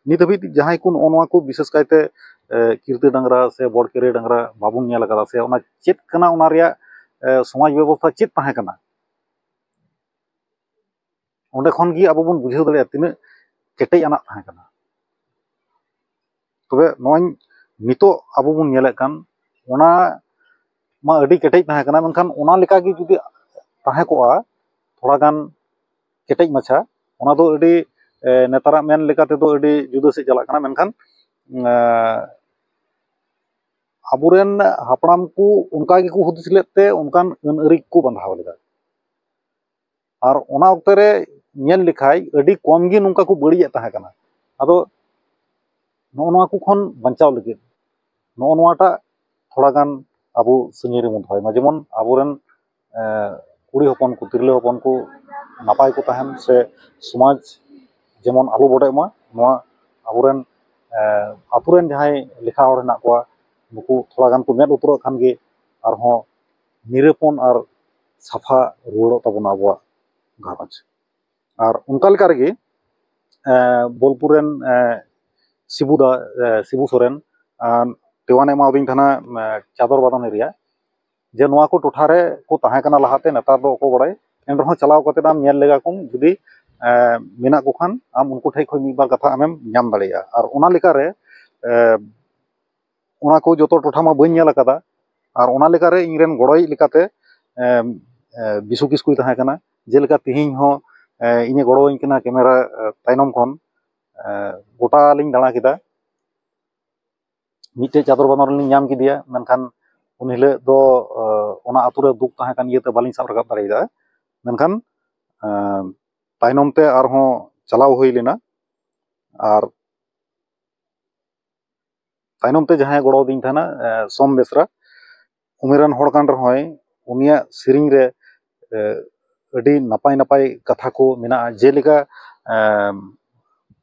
S1: ᱱᱤᱛ ᱦᱟᱹᱵᱤᱡ ᱡᱟᱦᱟᱸᱭ ᱠᱚ ᱱᱚᱜᱼᱚ ᱱᱚᱣᱟ ᱠᱚ ᱵᱤᱥᱮᱥ ᱠᱟᱭᱛᱮ ᱠᱤᱨᱛᱟᱹ ᱰᱟᱝᱨᱟ ᱥᱮ ᱵᱚᱲᱠᱮᱨᱮ ᱰᱟᱝᱨᱟ ᱵᱟᱵᱚᱱ ᱧᱮᱞ ᱠᱟᱫᱟ ᱥᱮ ᱚᱱᱟ ᱪᱮᱫ ᱠᱟᱱᱟ ᱚᱱᱟ ᱨᱮᱭᱟᱜ ᱥᱚᱢᱟᱡᱽ ᱵᱮᱵᱚᱥᱛᱷᱟ ᱪᱮᱫ ᱛᱟᱦᱮᱸ ᱠᱟᱱᱟ ᱚᱸᱰᱮ ᱠᱷᱚᱱ ᱜᱮ ᱟᱵᱚ ᱵᱚᱱ ᱵᱩᱡᱷᱟᱹᱣ ᱫᱟᱲᱮᱭᱟᱜᱼᱟ ᱛᱤᱱᱟᱹᱜ ᱠᱮᱴᱮᱡ ᱟᱱᱟᱜ ᱛᱟᱦᱮᱸ ᱠᱟᱱᱟ ᱛᱚᱵᱮ ᱱᱚᱜᱼᱚᱭ ᱱᱤᱛᱳᱜ ᱟᱵᱚ ᱵᱚᱱ ᱧᱮᱞᱮᱫ ᱠᱟᱱ ᱚᱱᱟ ᱢᱟ ᱟᱹᱰᱤ ᱠᱮᱴᱮᱡ ᱛᱟᱦᱮᱸ ᱠᱟᱱᱟ ᱢᱮᱱᱠᱷᱟᱱ ᱚᱱᱟ ᱞᱮᱠᱟ ᱜᱮ ᱡᱩᱫᱤ ᱛᱟᱦᱮᱸ ᱠᱚᱜᱼᱟ ᱛᱷᱚᱲᱟ ᱜᱟᱱ ᱠᱮᱴᱮᱡ ᱢᱟᱪᱷᱟ ᱚᱱᱟ ᱫᱚ ᱟᱹᱰᱤ ᱱᱮᱛᱟᱨᱟᱜ ᱢᱮᱱ ᱞᱮᱠᱟ ᱛᱮᱫᱚ ᱟᱹᱰᱤ ᱡᱩᱫᱟᱹ ᱥᱮᱫ ᱪᱟᱞᱟᱜ ᱠᱟᱱᱟ ᱢᱮᱱᱠᱷᱟᱱ ᱟᱵᱚ ᱨᱮᱱ ᱦᱟᱯᱲᱟᱢ ᱠᱚ ᱚᱱᱠᱟ ᱜᱮᱠᱚ ᱦᱩᱫᱤᱥ ᱞᱮᱫ ᱛᱮ ᱚᱱᱠᱟᱱ ᱟᱹᱱ ᱟᱹᱨᱤ ᱠᱚ ᱵᱟᱸᱫᱷᱟᱣ ᱞᱮᱫᱟ ᱟᱨ ᱚᱱᱟ ᱚᱠᱛᱮ ᱨᱮ ᱧᱮᱞ ᱞᱮᱠᱷᱟᱡ ᱟᱹᱰᱤ ᱠᱚᱢ ᱜᱮ ᱱᱚᱝᱠᱟ ᱠᱚ ᱵᱟᱹᱲᱤᱡᱮᱫ ᱛᱟᱦᱮᱸ ᱠᱟᱱᱟ ᱟᱫᱚ ᱱᱚᱜᱼᱚ ᱱᱚᱣᱟ ᱠᱚ ᱠᱷᱚᱱ ᱵᱟᱧᱪᱟᱣ ᱞᱟᱹᱜᱤᱫ ᱱᱚᱜᱼᱚ ᱱᱚᱣᱟᱴᱟᱜ ᱛᱷᱚᱲᱟ ᱜᱟᱱ ᱟᱵᱚ ᱥᱟᱹᱜᱤᱧ ᱨᱮᱵᱚᱱ ᱫᱚᱦᱚᱭ ᱢᱟ ᱡᱮᱢᱚᱱ ᱟᱵᱚ ᱨᱮᱱ ᱠᱩᱲᱤ ᱦᱚᱯᱚᱱ ᱠᱚ ᱛᱤᱨᱞᱟᱹ ᱦᱚᱯᱚᱱ ᱠᱚ ᱱᱟᱯᱟᱭ ᱠᱚ ᱛᱟᱦᱮᱱ ᱥᱮ ᱥᱚᱢᱟᱡᱽ ᱡᱮᱢᱚᱱ ᱟᱞᱚ ᱵᱚᱰᱮᱜ ᱢᱟ ᱱᱚᱣᱟ ᱟᱵᱚ ᱨᱮᱱ ᱟᱛᱳ ᱨᱮᱱ ᱡᱟᱦᱟᱸᱭ ᱞᱮᱠᱷᱟ ᱦᱚᱲ ᱦᱮᱱᱟᱜ ᱠᱚᱣᱟ ᱱᱩᱠᱩ ᱛᱷᱚᱲᱟ ᱜᱟᱱ ᱠᱚ ᱢᱮᱸᱫ ᱞᱩᱛᱩᱨᱟᱜ ᱠᱷᱟᱱ ᱜᱮ ᱟᱨᱦᱚᱸ ᱱᱤᱨᱟᱹᱯᱚᱱ ᱟᱨ ᱥᱟᱯᱷᱟ ᱨᱩᱣᱟᱹᱲᱚᱜ ᱛᱟᱵᱚᱱᱟ ᱟᱵᱚᱣᱟᱜ ᱜᱷᱟᱨᱚᱸᱡᱽ ᱟᱨ ᱚᱱᱠᱟ ᱞᱮᱠᱟ ᱨᱮᱜᱮ ᱵᱳᱞᱯᱩᱨ ᱨᱮᱱ ᱥᱤᱵᱩ ᱫᱟ ᱥᱤᱵᱩ ᱥᱚᱨᱮᱱ ᱛᱮᱣᱟᱱᱮ ᱮᱢᱟᱣᱟᱫᱤᱧ ᱛᱟᱦᱮᱱᱟ ᱪᱟᱫᱚᱨ ᱵᱟᱫᱟᱢ ᱮᱨᱤᱭᱟ ᱡᱮ ᱱᱚᱣᱟ ᱠᱚ ᱴᱚᱴᱷᱟ ᱨᱮ ᱠᱚ ᱛᱟᱦᱮᱸ ᱠᱟᱱᱟ ᱞᱟᱦᱟᱛᱮ ᱱᱮᱛᱟᱨ ᱫᱚ ᱚᱠᱚᱭ ᱵᱟᱲᱟᱭ ᱮᱱ ᱨᱮᱦᱚᱸ ᱪᱟᱞᱟᱣ ᱠᱟᱛᱮ ᱟᱢ ᱧᱮᱞ ᱞᱮᱜᱟ ᱠᱚᱢ ᱡᱩᱫᱤ ᱢᱮᱱᱟᱜ ᱠᱚ ᱠᱷᱟᱱ ᱟᱢ ᱩᱱᱠᱩ ᱴᱷᱮᱱ ᱠᱷᱚᱱ ᱢᱤᱫ ᱵᱟᱨ ᱠᱟᱛᱷᱟ ᱟᱢᱮᱢ ᱧᱟᱢ ᱫᱟᱲᱮᱭᱟᱜᱼᱟ ᱟᱨ ᱚᱱᱟ ᱞᱮᱠᱟᱨᱮ ᱚᱱᱟ ᱠᱚ ᱡᱚᱛᱚ ᱴᱚᱴᱷᱟ ᱢᱟ ᱵᱟᱹᱧ ᱧᱮᱞ ᱠᱟᱫᱟ ᱟᱨ ᱚᱱᱟ ᱞᱮᱠᱟᱨᱮ ᱤᱧ ᱨᱮᱱ ᱜᱚᱲᱚᱭᱤᱡ ᱞᱮᱠᱟᱛᱮ ᱵᱤᱥᱩ ᱠᱤᱥᱠᱩᱭ ᱛᱟᱦᱮᱸ ᱠᱟᱱᱟ ᱡᱮᱞᱮᱠᱟ ᱛᱮᱦᱮᱧ ᱦᱚᱸ ᱤᱧᱮ ᱜᱚᱲᱚ ᱟᱹᱧ ᱠᱟᱱᱟ ᱠᱮᱢᱮᱨᱟ ᱛᱟᱭᱱᱚᱢ ᱠᱷᱚᱱ ᱜᱚᱴᱟ ᱞᱤᱧ ᱫᱟᱬᱟ ᱠᱮᱫᱟ ᱢᱤᱫᱴᱮᱡ ᱪᱟᱫᱚᱨ ᱵᱟᱸᱫᱷᱚᱱ ᱨᱮᱞᱤᱧ ᱧᱟᱢ ᱠᱮᱫᱮᱭᱟ ᱢᱮᱱᱠᱷᱟᱱ ᱩᱱ ᱦᱤᱞᱳᱜ ᱫᱚ ᱚᱱᱟ ᱟᱹᱛᱩ ᱨᱮ ᱫᱩᱠ ᱛᱟᱦᱮᱸ ᱠᱟᱱ ᱤᱭᱟᱹᱛᱮ ᱵᱟᱹᱞᱤᱧ ᱥᱟᱵ ᱨᱟᱠᱟᱵ ᱫᱟᱲᱮᱭᱟᱫᱟ ᱢᱮᱱᱠᱷᱟᱱ ᱛᱟᱭᱱᱚᱢ ᱛᱮ ᱟᱨᱦᱚᱸ ᱪᱟᱞᱟᱣ ᱦᱩᱭ ᱞᱮᱱᱟ ᱟᱨ ᱛᱟᱭᱱᱚᱢ ᱛᱮ ᱡᱟᱦᱟᱸᱭᱮ ᱜᱚᱲᱚ ᱟᱹᱫᱤᱧ ᱛᱟᱦᱮᱱᱟ ᱥᱳᱢ ᱵᱮᱥᱨᱟ ᱩᱢᱮᱨᱟᱱ ᱦᱚᱲ ᱠᱟᱱ ᱨᱮᱦᱚᱸᱭ ᱩᱱᱤᱭᱟᱜ ᱥᱮᱨᱮᱧ ᱨᱮ ᱟᱹᱰᱤ ᱱᱟᱯᱟᱭ ᱱᱟᱯᱟᱭ ᱠᱟᱛᱷᱟ ᱠᱚ ᱢᱮᱱᱟᱜᱼᱟ ᱡᱮᱞᱮᱠᱟ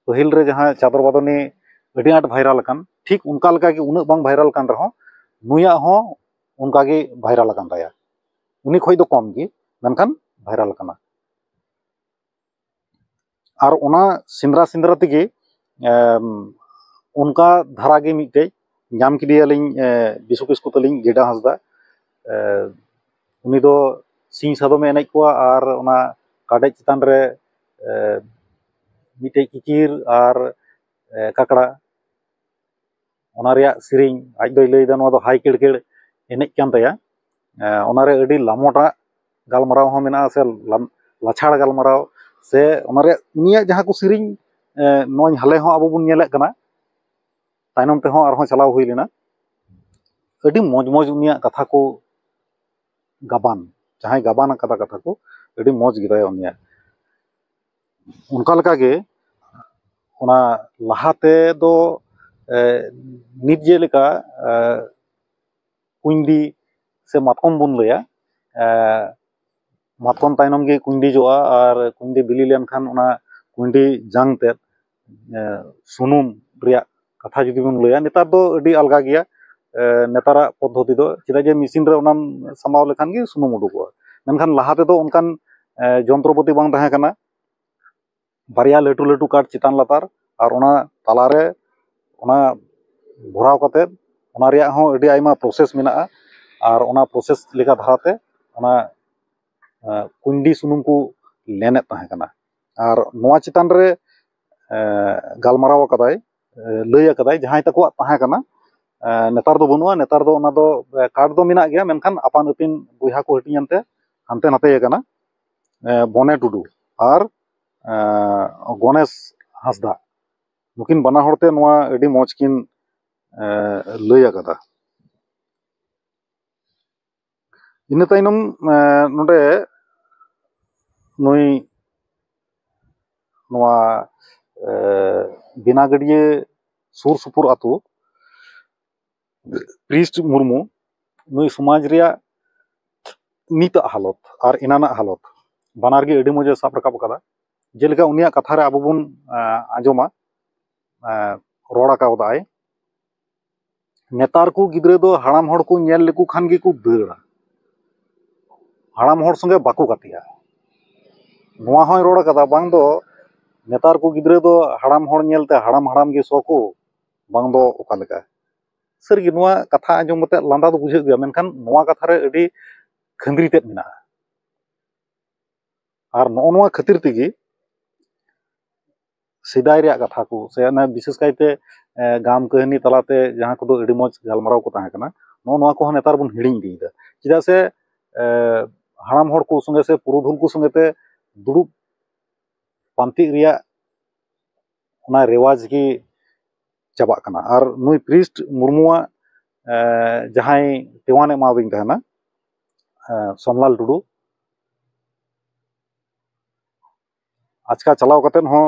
S1: ᱯᱟᱹᱦᱤᱞ ᱨᱮ ᱡᱟᱦᱟᱸ ᱪᱟᱫᱚᱨ ᱵᱟᱫᱚᱱᱤ ᱟᱹᱰᱤ ᱟᱸᱴ ᱵᱷᱟᱭᱨᱟᱞ ᱟᱠᱟᱱ ᱴᱷᱤᱠ ᱚᱱᱠᱟ ᱞᱮᱠᱟ ᱜᱮ ᱩᱱᱟᱹᱜ ᱵᱟᱝ ᱵᱷᱟᱭᱨᱟᱞ ᱟᱠᱟᱱ ᱨᱮᱦᱚᱸ ᱱᱩᱭᱟᱜ ᱦᱚᱸ ᱚᱱᱠᱟ ᱜᱮ ᱵᱷᱟᱭᱨᱟᱞ ᱟᱠᱟᱱ ᱛᱟᱭᱟ ᱩᱱᱤ ᱠᱷᱚᱱ ᱫᱚ ᱠᱚᱢ ᱜᱮ ᱢᱮᱱᱠᱷᱟᱱ ᱵᱷᱟᱭᱨᱟᱞ ᱟᱠᱟᱱᱟ ᱟᱨ ᱚᱱᱟ ᱥᱮᱸᱫᱽᱨᱟ ᱥᱮᱸᱫᱽᱨᱟ ᱛᱮᱜᱮ ᱚᱱᱠᱟ ᱫᱷᱟᱨᱟ ᱜᱮ ᱢᱤᱫᱴᱮᱡ ᱧᱟᱢ ᱠᱮᱫᱮᱭᱟᱞᱤᱧ ᱵᱤᱥᱩ ᱠᱤᱥᱠᱩ ᱛᱟᱹᱞᱤᱧ ᱜᱮᱰᱟ ᱦᱟᱸᱥᱫᱟ ᱩᱱᱤ ᱫᱚ ᱥᱤᱧ ᱥᱟᱫᱚᱢᱮ ᱮᱱᱮᱡ ᱠᱚᱣᱟ ᱟᱨ ᱚᱱᱟ ᱠᱟᱰᱮᱡ ᱪᱮᱛᱟᱱ ᱨᱮ ᱢᱤᱫᱴᱮᱡ ᱠᱤᱠᱤᱨ ᱟᱨ ᱠᱟᱠᱲᱟ ᱚᱱᱟ ᱨᱮᱭᱟᱜ ᱥᱮᱨᱮᱧ ᱟᱡ ᱫᱚᱭ ᱞᱟᱹᱭᱫᱟ ᱱᱚᱣᱟ ᱫᱚ ᱦᱟᱭ ᱠᱮᱲᱠᱮᱲ ᱮᱱᱮᱡ ᱠᱟᱱ ᱛᱟᱭᱟ ᱚᱱᱟᱨᱮ ᱟᱹᱰᱤ ᱞᱟᱢᱚᱴᱟᱜ ᱜᱟᱞᱢᱟᱨᱟᱣ ᱦᱚᱸ ᱢᱮᱱᱟᱜᱼᱟ ᱥᱮ ᱞᱟᱪᱷᱟᱲ ᱜᱟᱞᱢᱟᱨᱟᱣ ᱥᱮ ᱚᱱᱟ ᱨᱮᱭᱟᱜ ᱩᱱᱤᱭᱟᱜ ᱡᱟᱦᱟᱸ ᱠᱚ ᱥᱮᱨᱮᱧ ᱱᱚᱜᱼᱚᱭ ᱦᱟᱞᱮ ᱦᱚᱸ ᱟᱵᱚ ᱵᱚᱱ ᱧᱮᱞᱮᱫ ᱠᱟᱱᱟ ᱛᱟᱭᱱᱚᱢ ᱛᱮᱦᱚᱸ ᱟᱨᱦᱚᱸ ᱪᱟᱞᱟᱣ ᱦᱩᱭ ᱞᱮᱱᱟ ᱟᱹᱰᱤ ᱢᱚᱡᱽ ᱢᱚᱡᱽ ᱩᱱᱤᱭᱟᱜ ᱠᱟᱛᱷᱟ ᱠᱚ ᱜᱟᱵᱟᱱ ᱡᱟᱦᱟᱸᱭ ᱜᱟᱵᱟᱱ ᱠᱟᱫᱟ ᱠᱟᱛᱷᱟ ᱠᱚ ᱟᱹᱰᱤ ᱢᱚᱡᱽ ᱜᱮᱛᱟᱭᱟ ᱩᱱᱤᱭᱟᱜ ᱚᱱᱠᱟ ᱞᱮᱠᱟᱜᱮ ᱚᱱᱟ ᱞᱟᱦᱟ ᱛᱮᱫᱚ ᱱᱤᱛ ᱡᱮᱞᱮᱠᱟ ᱠᱩᱸᱭᱰᱤ ᱥᱮ ᱢᱟᱛᱠᱚᱢ ᱵᱚᱱ ᱞᱟᱹᱭᱟ ᱢᱟᱛᱠᱚᱢ ᱛᱟᱭᱱᱚᱢ ᱜᱮ ᱠᱩᱸᱭᱰᱤ ᱡᱚᱜᱼᱟ ᱟᱨ ᱠᱩᱸᱭᱰᱤ ᱵᱤᱞᱤ ᱞᱮᱱᱠᱷᱟᱱ ᱚᱱᱟ ᱠᱩᱸᱭᱰᱤ ᱡᱟᱝ ᱛᱮᱫ ᱥᱩᱱᱩᱢ ᱨᱮᱭᱟᱜ ᱠᱟᱛᱷᱟ ᱡᱩᱫᱤ ᱵᱚᱱ ᱞᱟᱹᱭᱟ ᱱᱮᱛᱟᱨ ᱫᱚ ᱟᱹᱰᱤ ᱟᱞᱜᱟ ᱜᱮᱭᱟ ᱱᱮᱛᱟᱨᱟᱜ ᱯᱚᱫᱽᱫᱷᱚᱛᱤ ᱫᱚ ᱪᱮᱫᱟᱜ ᱡᱮ ᱢᱮᱥᱤᱱ ᱨᱮ ᱚᱱᱟᱢ ᱥᱟᱢᱵᱟᱣ ᱞᱮᱠᱷᱟᱱ ᱜᱮ ᱥᱩᱱᱩᱢ ᱩᱰᱩᱠᱚᱜᱼᱟ ᱢᱮᱱᱠᱷᱟᱱ ᱞᱟᱦᱟ ᱛᱮᱫᱚ ᱚᱱᱠᱟᱱ ᱡᱚᱱᱛᱨᱚᱯᱟᱹᱛᱤ ᱵᱟᱝ ᱛᱟᱦᱮᱸ ᱠᱟᱱᱟ ᱵᱟᱨᱭᱟ ᱞᱟᱹᱴᱩ ᱞᱟᱹᱴᱩ ᱠᱟᱴ ᱪᱮᱛᱟᱱ ᱞᱟᱛᱟᱨ ᱟᱨ ᱚᱱᱟ ᱛᱟᱞᱟᱨᱮ ᱚᱱᱟ ᱵᱷᱚᱨᱟᱣ ᱠᱟᱛᱮ ᱚᱱᱟ ᱨᱮᱭᱟᱜ ᱦᱚᱸ ᱟᱹᱰᱤ ᱟᱭᱢᱟ ᱯᱨᱚᱥᱮᱥ ᱢᱮᱱᱟᱜᱼᱟ ᱟᱨ ᱚᱱᱟ ᱯᱨᱚᱥᱮᱥ ᱞᱮᱠᱟ ᱫᱷᱟᱨᱟᱛᱮ ᱚᱱᱟ ᱠᱩᱸᱭᱰᱤ ᱥᱩᱱᱩᱢ ᱠᱚ ᱞᱮᱱᱮᱫ ᱛᱟᱦᱮᱸ ᱠᱟᱱᱟ ᱟᱨ ᱱᱚᱣᱟ ᱪᱮᱛᱟᱱ ᱨᱮ ᱜᱟᱞᱢᱟᱨᱟᱣ ᱟᱠᱟᱫᱟᱭ ᱞᱟᱹᱭ ᱟᱠᱟᱫᱟᱭ ᱡᱟᱦᱟᱸᱭ ᱛᱟᱠᱚᱣᱟᱜ ᱛᱟᱦᱮᱸ ᱠᱟᱱᱟ ᱱᱮᱛᱟᱨ ᱫᱚ ᱵᱟᱹᱱᱩᱜᱼᱟ ᱱᱮᱛᱟᱨ ᱫᱚ ᱚᱱᱟ ᱫᱚ ᱠᱟᱨᱰ ᱫᱚ ᱢᱮᱱᱟᱜ ᱜᱮᱭᱟ ᱢᱮᱱᱠᱷᱟᱱ ᱟᱯᱟᱱ ᱟᱹᱯᱤᱱ ᱵᱚᱭᱦᱟ ᱠᱚ ᱦᱟᱹᱴᱤᱧ ᱮᱱᱛᱮ ᱦᱟᱱᱛᱮ ᱱᱟᱛᱮ ᱟᱠᱟᱱᱟ ᱵᱚᱱᱮ ᱴᱩᱰᱩ ᱟᱨ ᱜᱚᱱᱮᱥ ᱦᱟᱸᱥᱫᱟ ᱱᱩᱠᱤᱱ ᱵᱟᱱᱟ ᱦᱚᱲ ᱛᱮ ᱱᱚᱣᱟ ᱟᱹᱰᱤ ᱢᱚᱡᱽ ᱠᱤᱱ ᱞᱟᱹᱭ ᱟᱠᱟᱫᱟ ᱤᱱᱟᱹ ᱛᱟᱭᱱᱚᱢ ᱱᱚᱸᱰᱮ ᱱᱩᱭ ᱱᱚᱣᱟ ᱵᱮᱱᱟ ᱜᱟᱹᱰᱭᱟᱹ ᱥᱩᱨ ᱥᱩᱯᱩᱨ ᱟᱛᱳ ᱠᱨᱤᱥ ᱢᱩᱨᱢᱩ ᱱᱩᱭ ᱥᱚᱢᱟᱡᱽ ᱨᱮᱭᱟᱜ ᱱᱤᱛᱟᱜ ᱦᱟᱞᱚᱛ ᱟᱨ ᱮᱱᱟᱱᱟᱜ ᱦᱟᱞᱚᱛ ᱵᱟᱱᱟᱨ ᱜᱮ ᱟᱹᱰᱤ ᱢᱚᱡᱮ ᱥᱟᱵ ᱨᱟᱠᱟᱵ ᱟᱠᱟᱫᱟ ᱡᱮᱞᱮᱠᱟ ᱩᱱᱤᱭᱟᱜ ᱠᱟᱛᱷᱟ ᱨᱮ ᱟᱵᱚ ᱵᱚᱱ ᱟᱸᱡᱚᱢᱟ ᱨᱚᱲ ᱟᱠᱟᱣᱫᱟᱭ ᱱᱮᱛᱟᱨ ᱠᱚ ᱜᱤᱫᱽᱨᱟᱹ ᱫᱚ ᱦᱟᱲᱟᱢ ᱦᱚᱲ ᱠᱚ ᱧᱮᱞ ᱞᱮᱠᱚ ᱠᱷᱟᱱ ᱜᱮᱠᱚ ᱫᱟᱹᱲᱟ ᱦᱟᱲᱟᱢ ᱦᱚᱲ ᱥᱚᱸᱜᱮ ᱵᱟᱠᱚ ᱜᱟᱛᱮᱜᱼᱟ ᱱᱚᱣᱟ ᱦᱚᱸᱭ ᱨᱚᱲ ᱠᱟᱫᱟ ᱵᱟᱝ ᱫᱚ ᱱᱮᱛᱟᱨ ᱠᱚ ᱜᱤᱫᱽᱨᱟᱹ ᱫᱚ ᱦᱟᱲᱟᱢ ᱦᱚᱲ ᱧᱮᱞᱛᱮ ᱦᱟᱲᱟᱢ ᱦᱟᱲᱟᱢ ᱜᱮ ᱥᱚ ᱠᱚ ᱵᱟᱝ ᱫᱚ ᱚᱠᱟ ᱞᱮᱠᱟ ᱥᱟᱹᱨᱤ ᱜᱮ ᱱᱚᱣᱟ ᱠᱟᱛᱷᱟ ᱟᱸᱡᱚᱢ ᱠᱟᱛᱮ ᱞᱟᱸᱫᱟ ᱫᱚ ᱵᱩᱡᱷᱟᱹᱜ ᱜᱮᱭᱟ ᱢᱮᱱᱠᱷᱟᱱ ᱱᱚᱣᱟ ᱠᱟᱛᱷᱟ ᱨᱮ ᱟᱹᱰᱤ ᱠᱷᱟᱺᱫᱽᱨᱤ ᱛᱮᱫ ᱢᱮᱱᱟᱜᱼᱟ ᱟᱨ ᱱᱚᱜᱼᱚ ᱱᱚᱣᱟ ᱠᱷᱟᱹᱛᱤᱨ ᱛᱮᱜᱮ ᱥᱮᱫᱟᱭ ᱨᱮᱭᱟᱜ ᱠᱟᱛᱷᱟ ᱠᱚ ᱥᱮ ᱚᱱᱟ ᱵᱤᱥᱮᱥ ᱠᱟᱭᱛᱮ ᱜᱟᱢ ᱠᱟᱹᱦᱱᱤ ᱛᱟᱞᱟᱛᱮ ᱡᱟᱦᱟᱸ ᱠᱚᱫᱚ ᱟᱹᱰᱤ ᱢᱚᱡᱽ ᱜᱟᱞᱢᱟᱨᱟᱣ ᱠᱚ ᱛᱟᱦᱮᱸ ᱠᱟᱱᱟ ᱱᱚᱜᱼᱚ ᱱᱚᱣᱟ ᱠᱚᱦᱚᱸ ᱱᱮᱛᱟᱨ ᱵᱚᱱ ᱦᱤᱲᱤᱧ ᱤᱫᱤᱭᱮᱫᱟ ᱪᱮᱫᱟᱜ ᱥᱮ ᱦᱟᱲᱟᱢ ᱦᱚᱲ ᱠᱚ ᱥᱚᱸᱜᱮ ᱥᱮ ᱯᱩᱨᱩᱫᱷᱩᱞ ᱠᱚ ᱥᱚᱸᱜᱮ ᱛᱮ ᱫᱩᱲᱩᱵ ᱯᱟᱱᱛᱮᱜ ᱨᱮᱭᱟᱜ ᱚᱱᱟ ᱨᱮᱣᱟᱡᱽ ᱜᱮ ᱪᱟᱵᱟᱜ ᱠᱟᱱᱟ ᱟᱨ ᱱᱩᱭ ᱯᱨᱤᱥᱴ ᱢᱩᱨᱢᱩᱣᱟᱜ ᱡᱟᱦᱟᱸᱭ ᱫᱮᱣᱟᱱ ᱮᱢᱟᱣᱫᱤᱧ ᱛᱟᱦᱮᱱᱟ ᱥᱳᱢᱞᱟᱞ ᱴᱩᱰᱩ ᱟᱪᱠᱟ ᱪᱟᱞᱟᱣ ᱠᱟᱛᱮᱫ ᱦᱚᱸ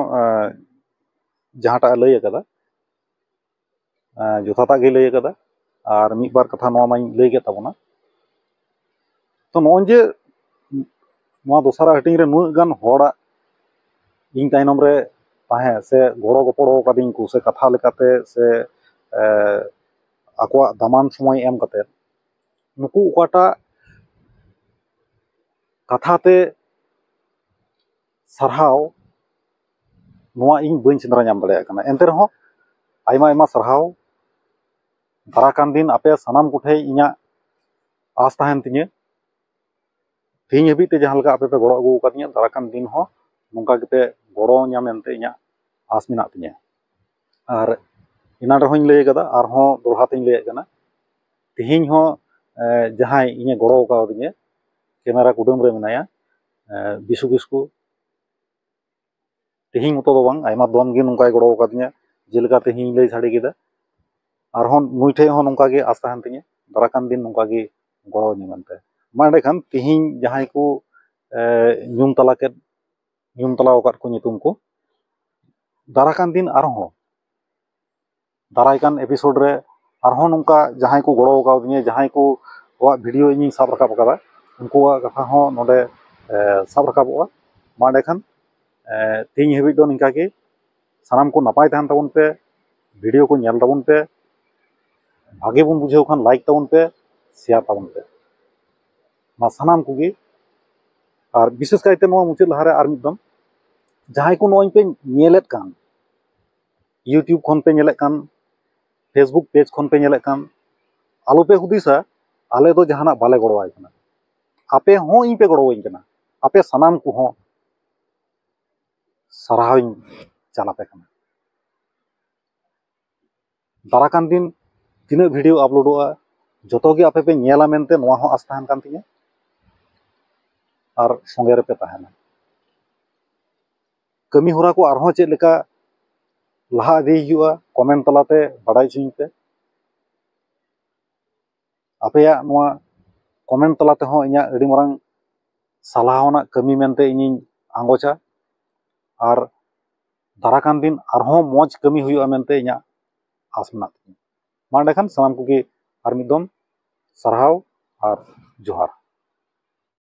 S1: ᱡᱟᱦᱟᱸᱴᱟᱜ ᱮ ᱞᱟᱹᱭ ᱠᱟᱫᱟ ᱡᱚᱛᱷᱟᱛᱟᱜ ᱜᱮᱭ ᱞᱟᱹᱭ ᱠᱟᱫᱟ ᱟᱨ ᱢᱤᱫ ᱵᱟᱨ ᱠᱟᱛᱷᱟ ᱱᱚᱣᱟ ᱢᱟᱧ ᱞᱟᱹᱭ ᱠᱮᱫ ᱛᱟᱵᱚᱱᱟ ᱛᱚ ᱱᱚᱜᱼᱚᱭ ᱡᱮ ᱱᱚᱣᱟ ᱫᱚᱥᱨᱟ ᱦᱟᱹᱴᱤᱧ ᱨᱮ ᱱᱩᱱᱟᱹᱜ ᱜᱟᱱ ᱦᱚᱲᱟᱜ ᱤᱧ ᱛᱟᱭᱱᱚᱢ ᱨᱮ ᱛᱟᱦᱮᱸ ᱥᱮ ᱜᱚᱲᱚ ᱜᱚᱯᱚᱲᱚ ᱠᱟᱹᱫᱤᱧᱟ ᱠᱚ ᱥᱮ ᱠᱟᱛᱷᱟ ᱞᱮᱠᱟᱛᱮ ᱥᱮ ᱟᱠᱚᱣᱟᱜ ᱫᱟᱢᱟᱱ ᱥᱚᱢᱚᱭ ᱮᱢ ᱠᱟᱛᱮᱫ ᱱᱩᱠᱩ ᱚᱠᱟᱴᱟᱜ ᱠᱟᱛᱷᱟ ᱛᱮ ᱥᱟᱨᱦᱟᱣ ᱱᱚᱣᱟ ᱤᱧ ᱵᱟᱹᱧ ᱥᱮᱸᱫᱽᱨᱟ ᱧᱟᱢ ᱫᱟᱲᱮᱭᱟᱜ ᱠᱟᱱᱟ ᱮᱱᱛᱮ ᱨᱮᱦᱚᱸ ᱟᱭᱢᱟ ᱟᱭᱢᱟ ᱥᱟᱨᱦᱟᱣ ᱫᱟᱨᱟᱭ ᱠᱟᱱ ᱫᱤᱱ ᱟᱯᱮ ᱥᱟᱱᱟᱢ ᱠᱚᱴᱷᱮᱱ ᱤᱧᱟᱹᱜ ᱟᱸᱥ ᱛᱟᱦᱮᱱ ᱛᱤᱧᱟᱹ ᱛᱮᱦᱮᱧ ᱦᱟᱹᱵᱤᱡ ᱛᱮ ᱡᱟᱦᱟᱸ ᱞᱮᱠᱟ ᱟᱯᱮ ᱯᱮ ᱜᱚᱲᱚ ᱟᱹᱜᱩ ᱟᱠᱟᱫᱤᱧᱟ ᱫᱟᱨᱟᱭ ᱠᱟᱱ ᱫᱤᱱ ᱦᱚᱸ ᱱᱚᱝᱠᱟ ᱜᱮᱯᱮ ᱜᱚᱲᱚᱣᱟᱹᱧᱟ ᱢᱮᱱᱛᱮ ᱤᱧᱟᱹᱜ ᱟᱸᱥ ᱢᱮᱱᱟᱜ ᱛᱤᱧᱟᱹ ᱟᱨ ᱮᱱᱟᱱ ᱨᱮᱦᱚᱸᱧ ᱞᱟᱹᱭ ᱠᱟᱫᱟ ᱟᱨᱦᱚᱸ ᱫᱚᱦᱲᱟ ᱛᱤᱧ ᱞᱟᱹᱭᱟᱜ ᱠᱟᱱᱟ ᱛᱮᱦᱮᱧ ᱦᱚᱸ ᱡᱟᱦᱟᱸᱭ ᱤᱧᱮ ᱜᱚᱲᱚ ᱠᱟᱣᱫᱤᱧᱟᱹ ᱠᱮᱢᱮᱨᱟ ᱠᱩᱰᱟᱹᱢ ᱨᱮ ᱢᱮᱱᱟᱭᱟ ᱵᱤᱥᱩ ᱠᱤᱥᱠᱩ ᱛᱮᱦᱮᱧ ᱢᱚᱛᱚ ᱫᱚ ᱵᱟᱝ ᱟᱭᱢᱟ ᱫᱚᱢ ᱜᱮ ᱱᱚᱝᱠᱟᱭ ᱜᱚᱲᱚ ᱠᱟᱣᱫᱤᱧᱟᱹ ᱡᱮᱞᱮᱠᱟ ᱛᱮᱦᱮᱧ ᱞᱟᱹᱭ ᱥᱟᱰᱮ ᱠᱮᱫᱟ ᱟᱨᱦᱚᱸ ᱱᱩᱭ ᱴᱷᱮᱱ ᱦᱚᱸ ᱱᱚᱝᱠᱟ ᱜᱮ ᱟᱥ ᱛᱟᱦᱮᱱ ᱛᱤᱧᱟᱹ ᱫᱟᱨᱟᱭ ᱠᱟᱱ ᱫᱤᱱ ᱱᱚᱝᱠᱟ ᱜᱮ ᱜᱚᱲᱚ ᱟᱹᱧᱟᱹᱭ ᱢᱮᱱᱛᱮ ᱢᱟ ᱮᱸᱰᱮ ᱠᱷᱟᱱ ᱛᱮᱦᱮᱧ ᱡᱟᱦᱟᱸᱭ ᱠᱚ ᱧᱩᱢ ᱛᱟᱞᱟ ᱠᱮᱫ ᱧᱩᱢ ᱛᱟᱞᱟ ᱟᱠᱟᱫ ᱠᱚ ᱧᱩᱛᱩᱢ ᱠᱚ ᱫᱟᱨᱟᱭ ᱠᱟᱱ ᱫᱤᱱ ᱟᱨᱦᱚᱸ ᱫᱟᱨᱟᱭ ᱠᱟᱱ ᱮᱯᱤᱥᱳᱰ ᱨᱮ ᱟᱨᱦᱚᱸ ᱱᱚᱝᱠᱟ ᱡᱟᱦᱟᱸᱭ ᱠᱚ ᱜᱚᱲᱚ ᱠᱟᱣᱫᱤᱧᱟ ᱡᱟᱦᱟᱸᱭ ᱠᱚ ᱠᱚᱣᱟᱜ ᱵᱷᱤᱰᱭᱳ ᱤᱧᱤᱧ ᱥᱟᱵ ᱨᱟᱠᱟᱵ ᱟᱠᱟᱫᱟ ᱩᱱᱠᱩᱣᱟᱜ ᱠᱟᱛᱷᱟ ᱦᱚᱸ ᱱᱚᱰᱮ ᱥᱟᱵ ᱨᱟᱠᱟᱵᱚᱜᱼᱟ ᱢᱟ ᱮᱸᱰᱮ ᱠᱷᱟᱱ ᱛᱮᱦᱮᱧ ᱦᱟᱹᱵᱤᱡ ᱫᱚ ᱱᱤᱝᱠᱟ ᱜᱮ ᱥᱟᱱᱟᱢ ᱠᱚ ᱱᱟᱯᱟᱭ ᱛᱟᱦᱮᱱ ᱛᱟᱵᱚᱱ ᱯᱮ ᱵᱷᱤᱰᱭᱳ ᱠᱚ ᱧᱮᱞ ᱛᱟᱵᱚᱱ ᱯᱮ ᱵᱷᱟᱜᱮ ᱵᱚᱱ ᱵᱩᱡᱷᱟᱹᱣ ᱠᱷᱟᱱ ᱞᱟᱭᱤᱠ ᱛᱟᱵᱚᱱ ᱯᱮ ᱥᱮᱭᱟᱨ ᱛᱟᱵᱚᱱ ᱯᱮ ᱢᱟ ᱥᱟᱱᱟᱢ ᱠᱚᱜᱮ ᱟᱨ ᱵᱤᱥᱮᱥ ᱠᱟᱭᱛᱮ ᱱᱚᱣᱟ ᱢᱩᱪᱟᱹᱫ ᱞᱟᱦᱟᱨᱮ ᱟᱨ ᱢᱤᱫ ᱫᱚᱢ ᱡᱟᱦᱟᱸᱭ ᱠᱚ ᱱᱚᱜᱼᱚᱭ ᱯᱮ ᱧᱮᱞᱮᱫ ᱠᱟᱱ ᱤᱭᱩᱴᱩᱵᱽ ᱠᱷᱚᱱ ᱯᱮ ᱧᱮᱞᱮᱫ ᱠᱟᱱ ᱯᱷᱮᱥᱵᱩᱠ ᱯᱮᱡᱽ ᱠᱷᱚᱱ ᱯᱮ ᱧᱮᱞᱮᱫ ᱠᱟᱱ ᱟᱞᱚ ᱯᱮ ᱦᱩᱫᱤᱥᱟ ᱟᱞᱮ ᱫᱚ ᱡᱟᱦᱟᱱᱟᱜ ᱵᱟᱞᱮ ᱜᱚᱲᱚ ᱟᱭ ᱠᱟᱱᱟ ᱟᱯᱮ ᱦᱚᱸ ᱤᱧ ᱯᱮ ᱜᱚᱲᱚ ᱟᱹᱧ ᱠᱟᱱᱟ ᱟᱯᱮ ᱥᱟᱱᱟᱢ ᱠᱚᱦᱚᱸ ᱥᱟᱨᱦᱟᱣ ᱤᱧ ᱪᱟᱞ ᱟᱯᱮ ᱠᱟᱱᱟ ᱫᱟᱨᱟ ᱠᱟᱱ ᱫᱤᱱ ᱛᱤᱱᱟᱹᱜ ᱵᱷᱤᱰᱤᱭᱳ ᱟᱯᱞᱳᱰᱚᱜᱼᱟ ᱡᱚᱛᱚ ᱜᱮ ᱟᱯᱮ ᱯᱮ ᱧᱮᱞᱟ ᱢᱮᱱᱛᱮ ᱱᱚᱣᱟ ᱦᱚᱸ ᱟᱥ ᱛᱟᱦᱮᱱ ᱠᱟᱱ ᱛᱤᱧᱟᱹ ᱟᱨ ᱥᱚᱸᱜᱮ ᱨᱮᱯᱮ ᱛᱟᱦᱮᱱᱟ ᱠᱟᱹᱢᱤ ᱦᱚᱨᱟ ᱠᱚ ᱟᱨᱦᱚᱸ ᱪᱮᱫ ᱞᱮᱠᱟ ᱞᱟᱦᱟ ᱤᱫᱤ ᱦᱩᱭᱩᱜᱼᱟ ᱠᱚᱢᱮᱱᱴ ᱛᱟᱞᱟᱛᱮ ᱵᱟᱲᱟᱭ ᱦᱚᱪᱚᱧ ᱯᱮ ᱟᱯᱮᱭᱟᱜ ᱱᱚᱣᱟ ᱠᱚᱢᱮᱱᱴ ᱛᱟᱞᱟ ᱛᱮᱦᱚᱸ ᱤᱧᱟᱹᱜ ᱟᱹᱰᱤ ᱢᱟᱨᱟᱝ ᱥᱟᱞᱦᱟ ᱟᱱᱟᱜ ᱠᱟᱹᱢᱤ ᱢᱮᱱᱛᱮ ᱤᱧᱤᱧ ᱟᱸᱜᱚᱪᱟ ᱟᱨ ᱫᱟᱨᱟᱭ ᱠᱟᱱ ᱫᱤᱱ ᱟᱨᱦᱚᱸ ᱢᱚᱡᱽ ᱠᱟᱹᱢᱤ ᱦᱩᱭᱩᱜᱼᱟ ᱢᱮᱱᱛᱮ ᱤᱧᱟᱹᱜ ᱟᱸᱥ ᱢᱮᱱᱟᱜ ᱛᱤᱧᱟᱹ ᱢᱟ ᱮᱸᱰᱮᱠᱷᱟᱱ ᱥᱟᱱᱟᱢ ᱠᱚᱜᱮ ᱟᱨ ᱢᱤᱫ ᱫᱚᱢ ᱥᱟᱨᱦᱟᱣ ᱟᱨ ᱡᱚᱦᱟᱨ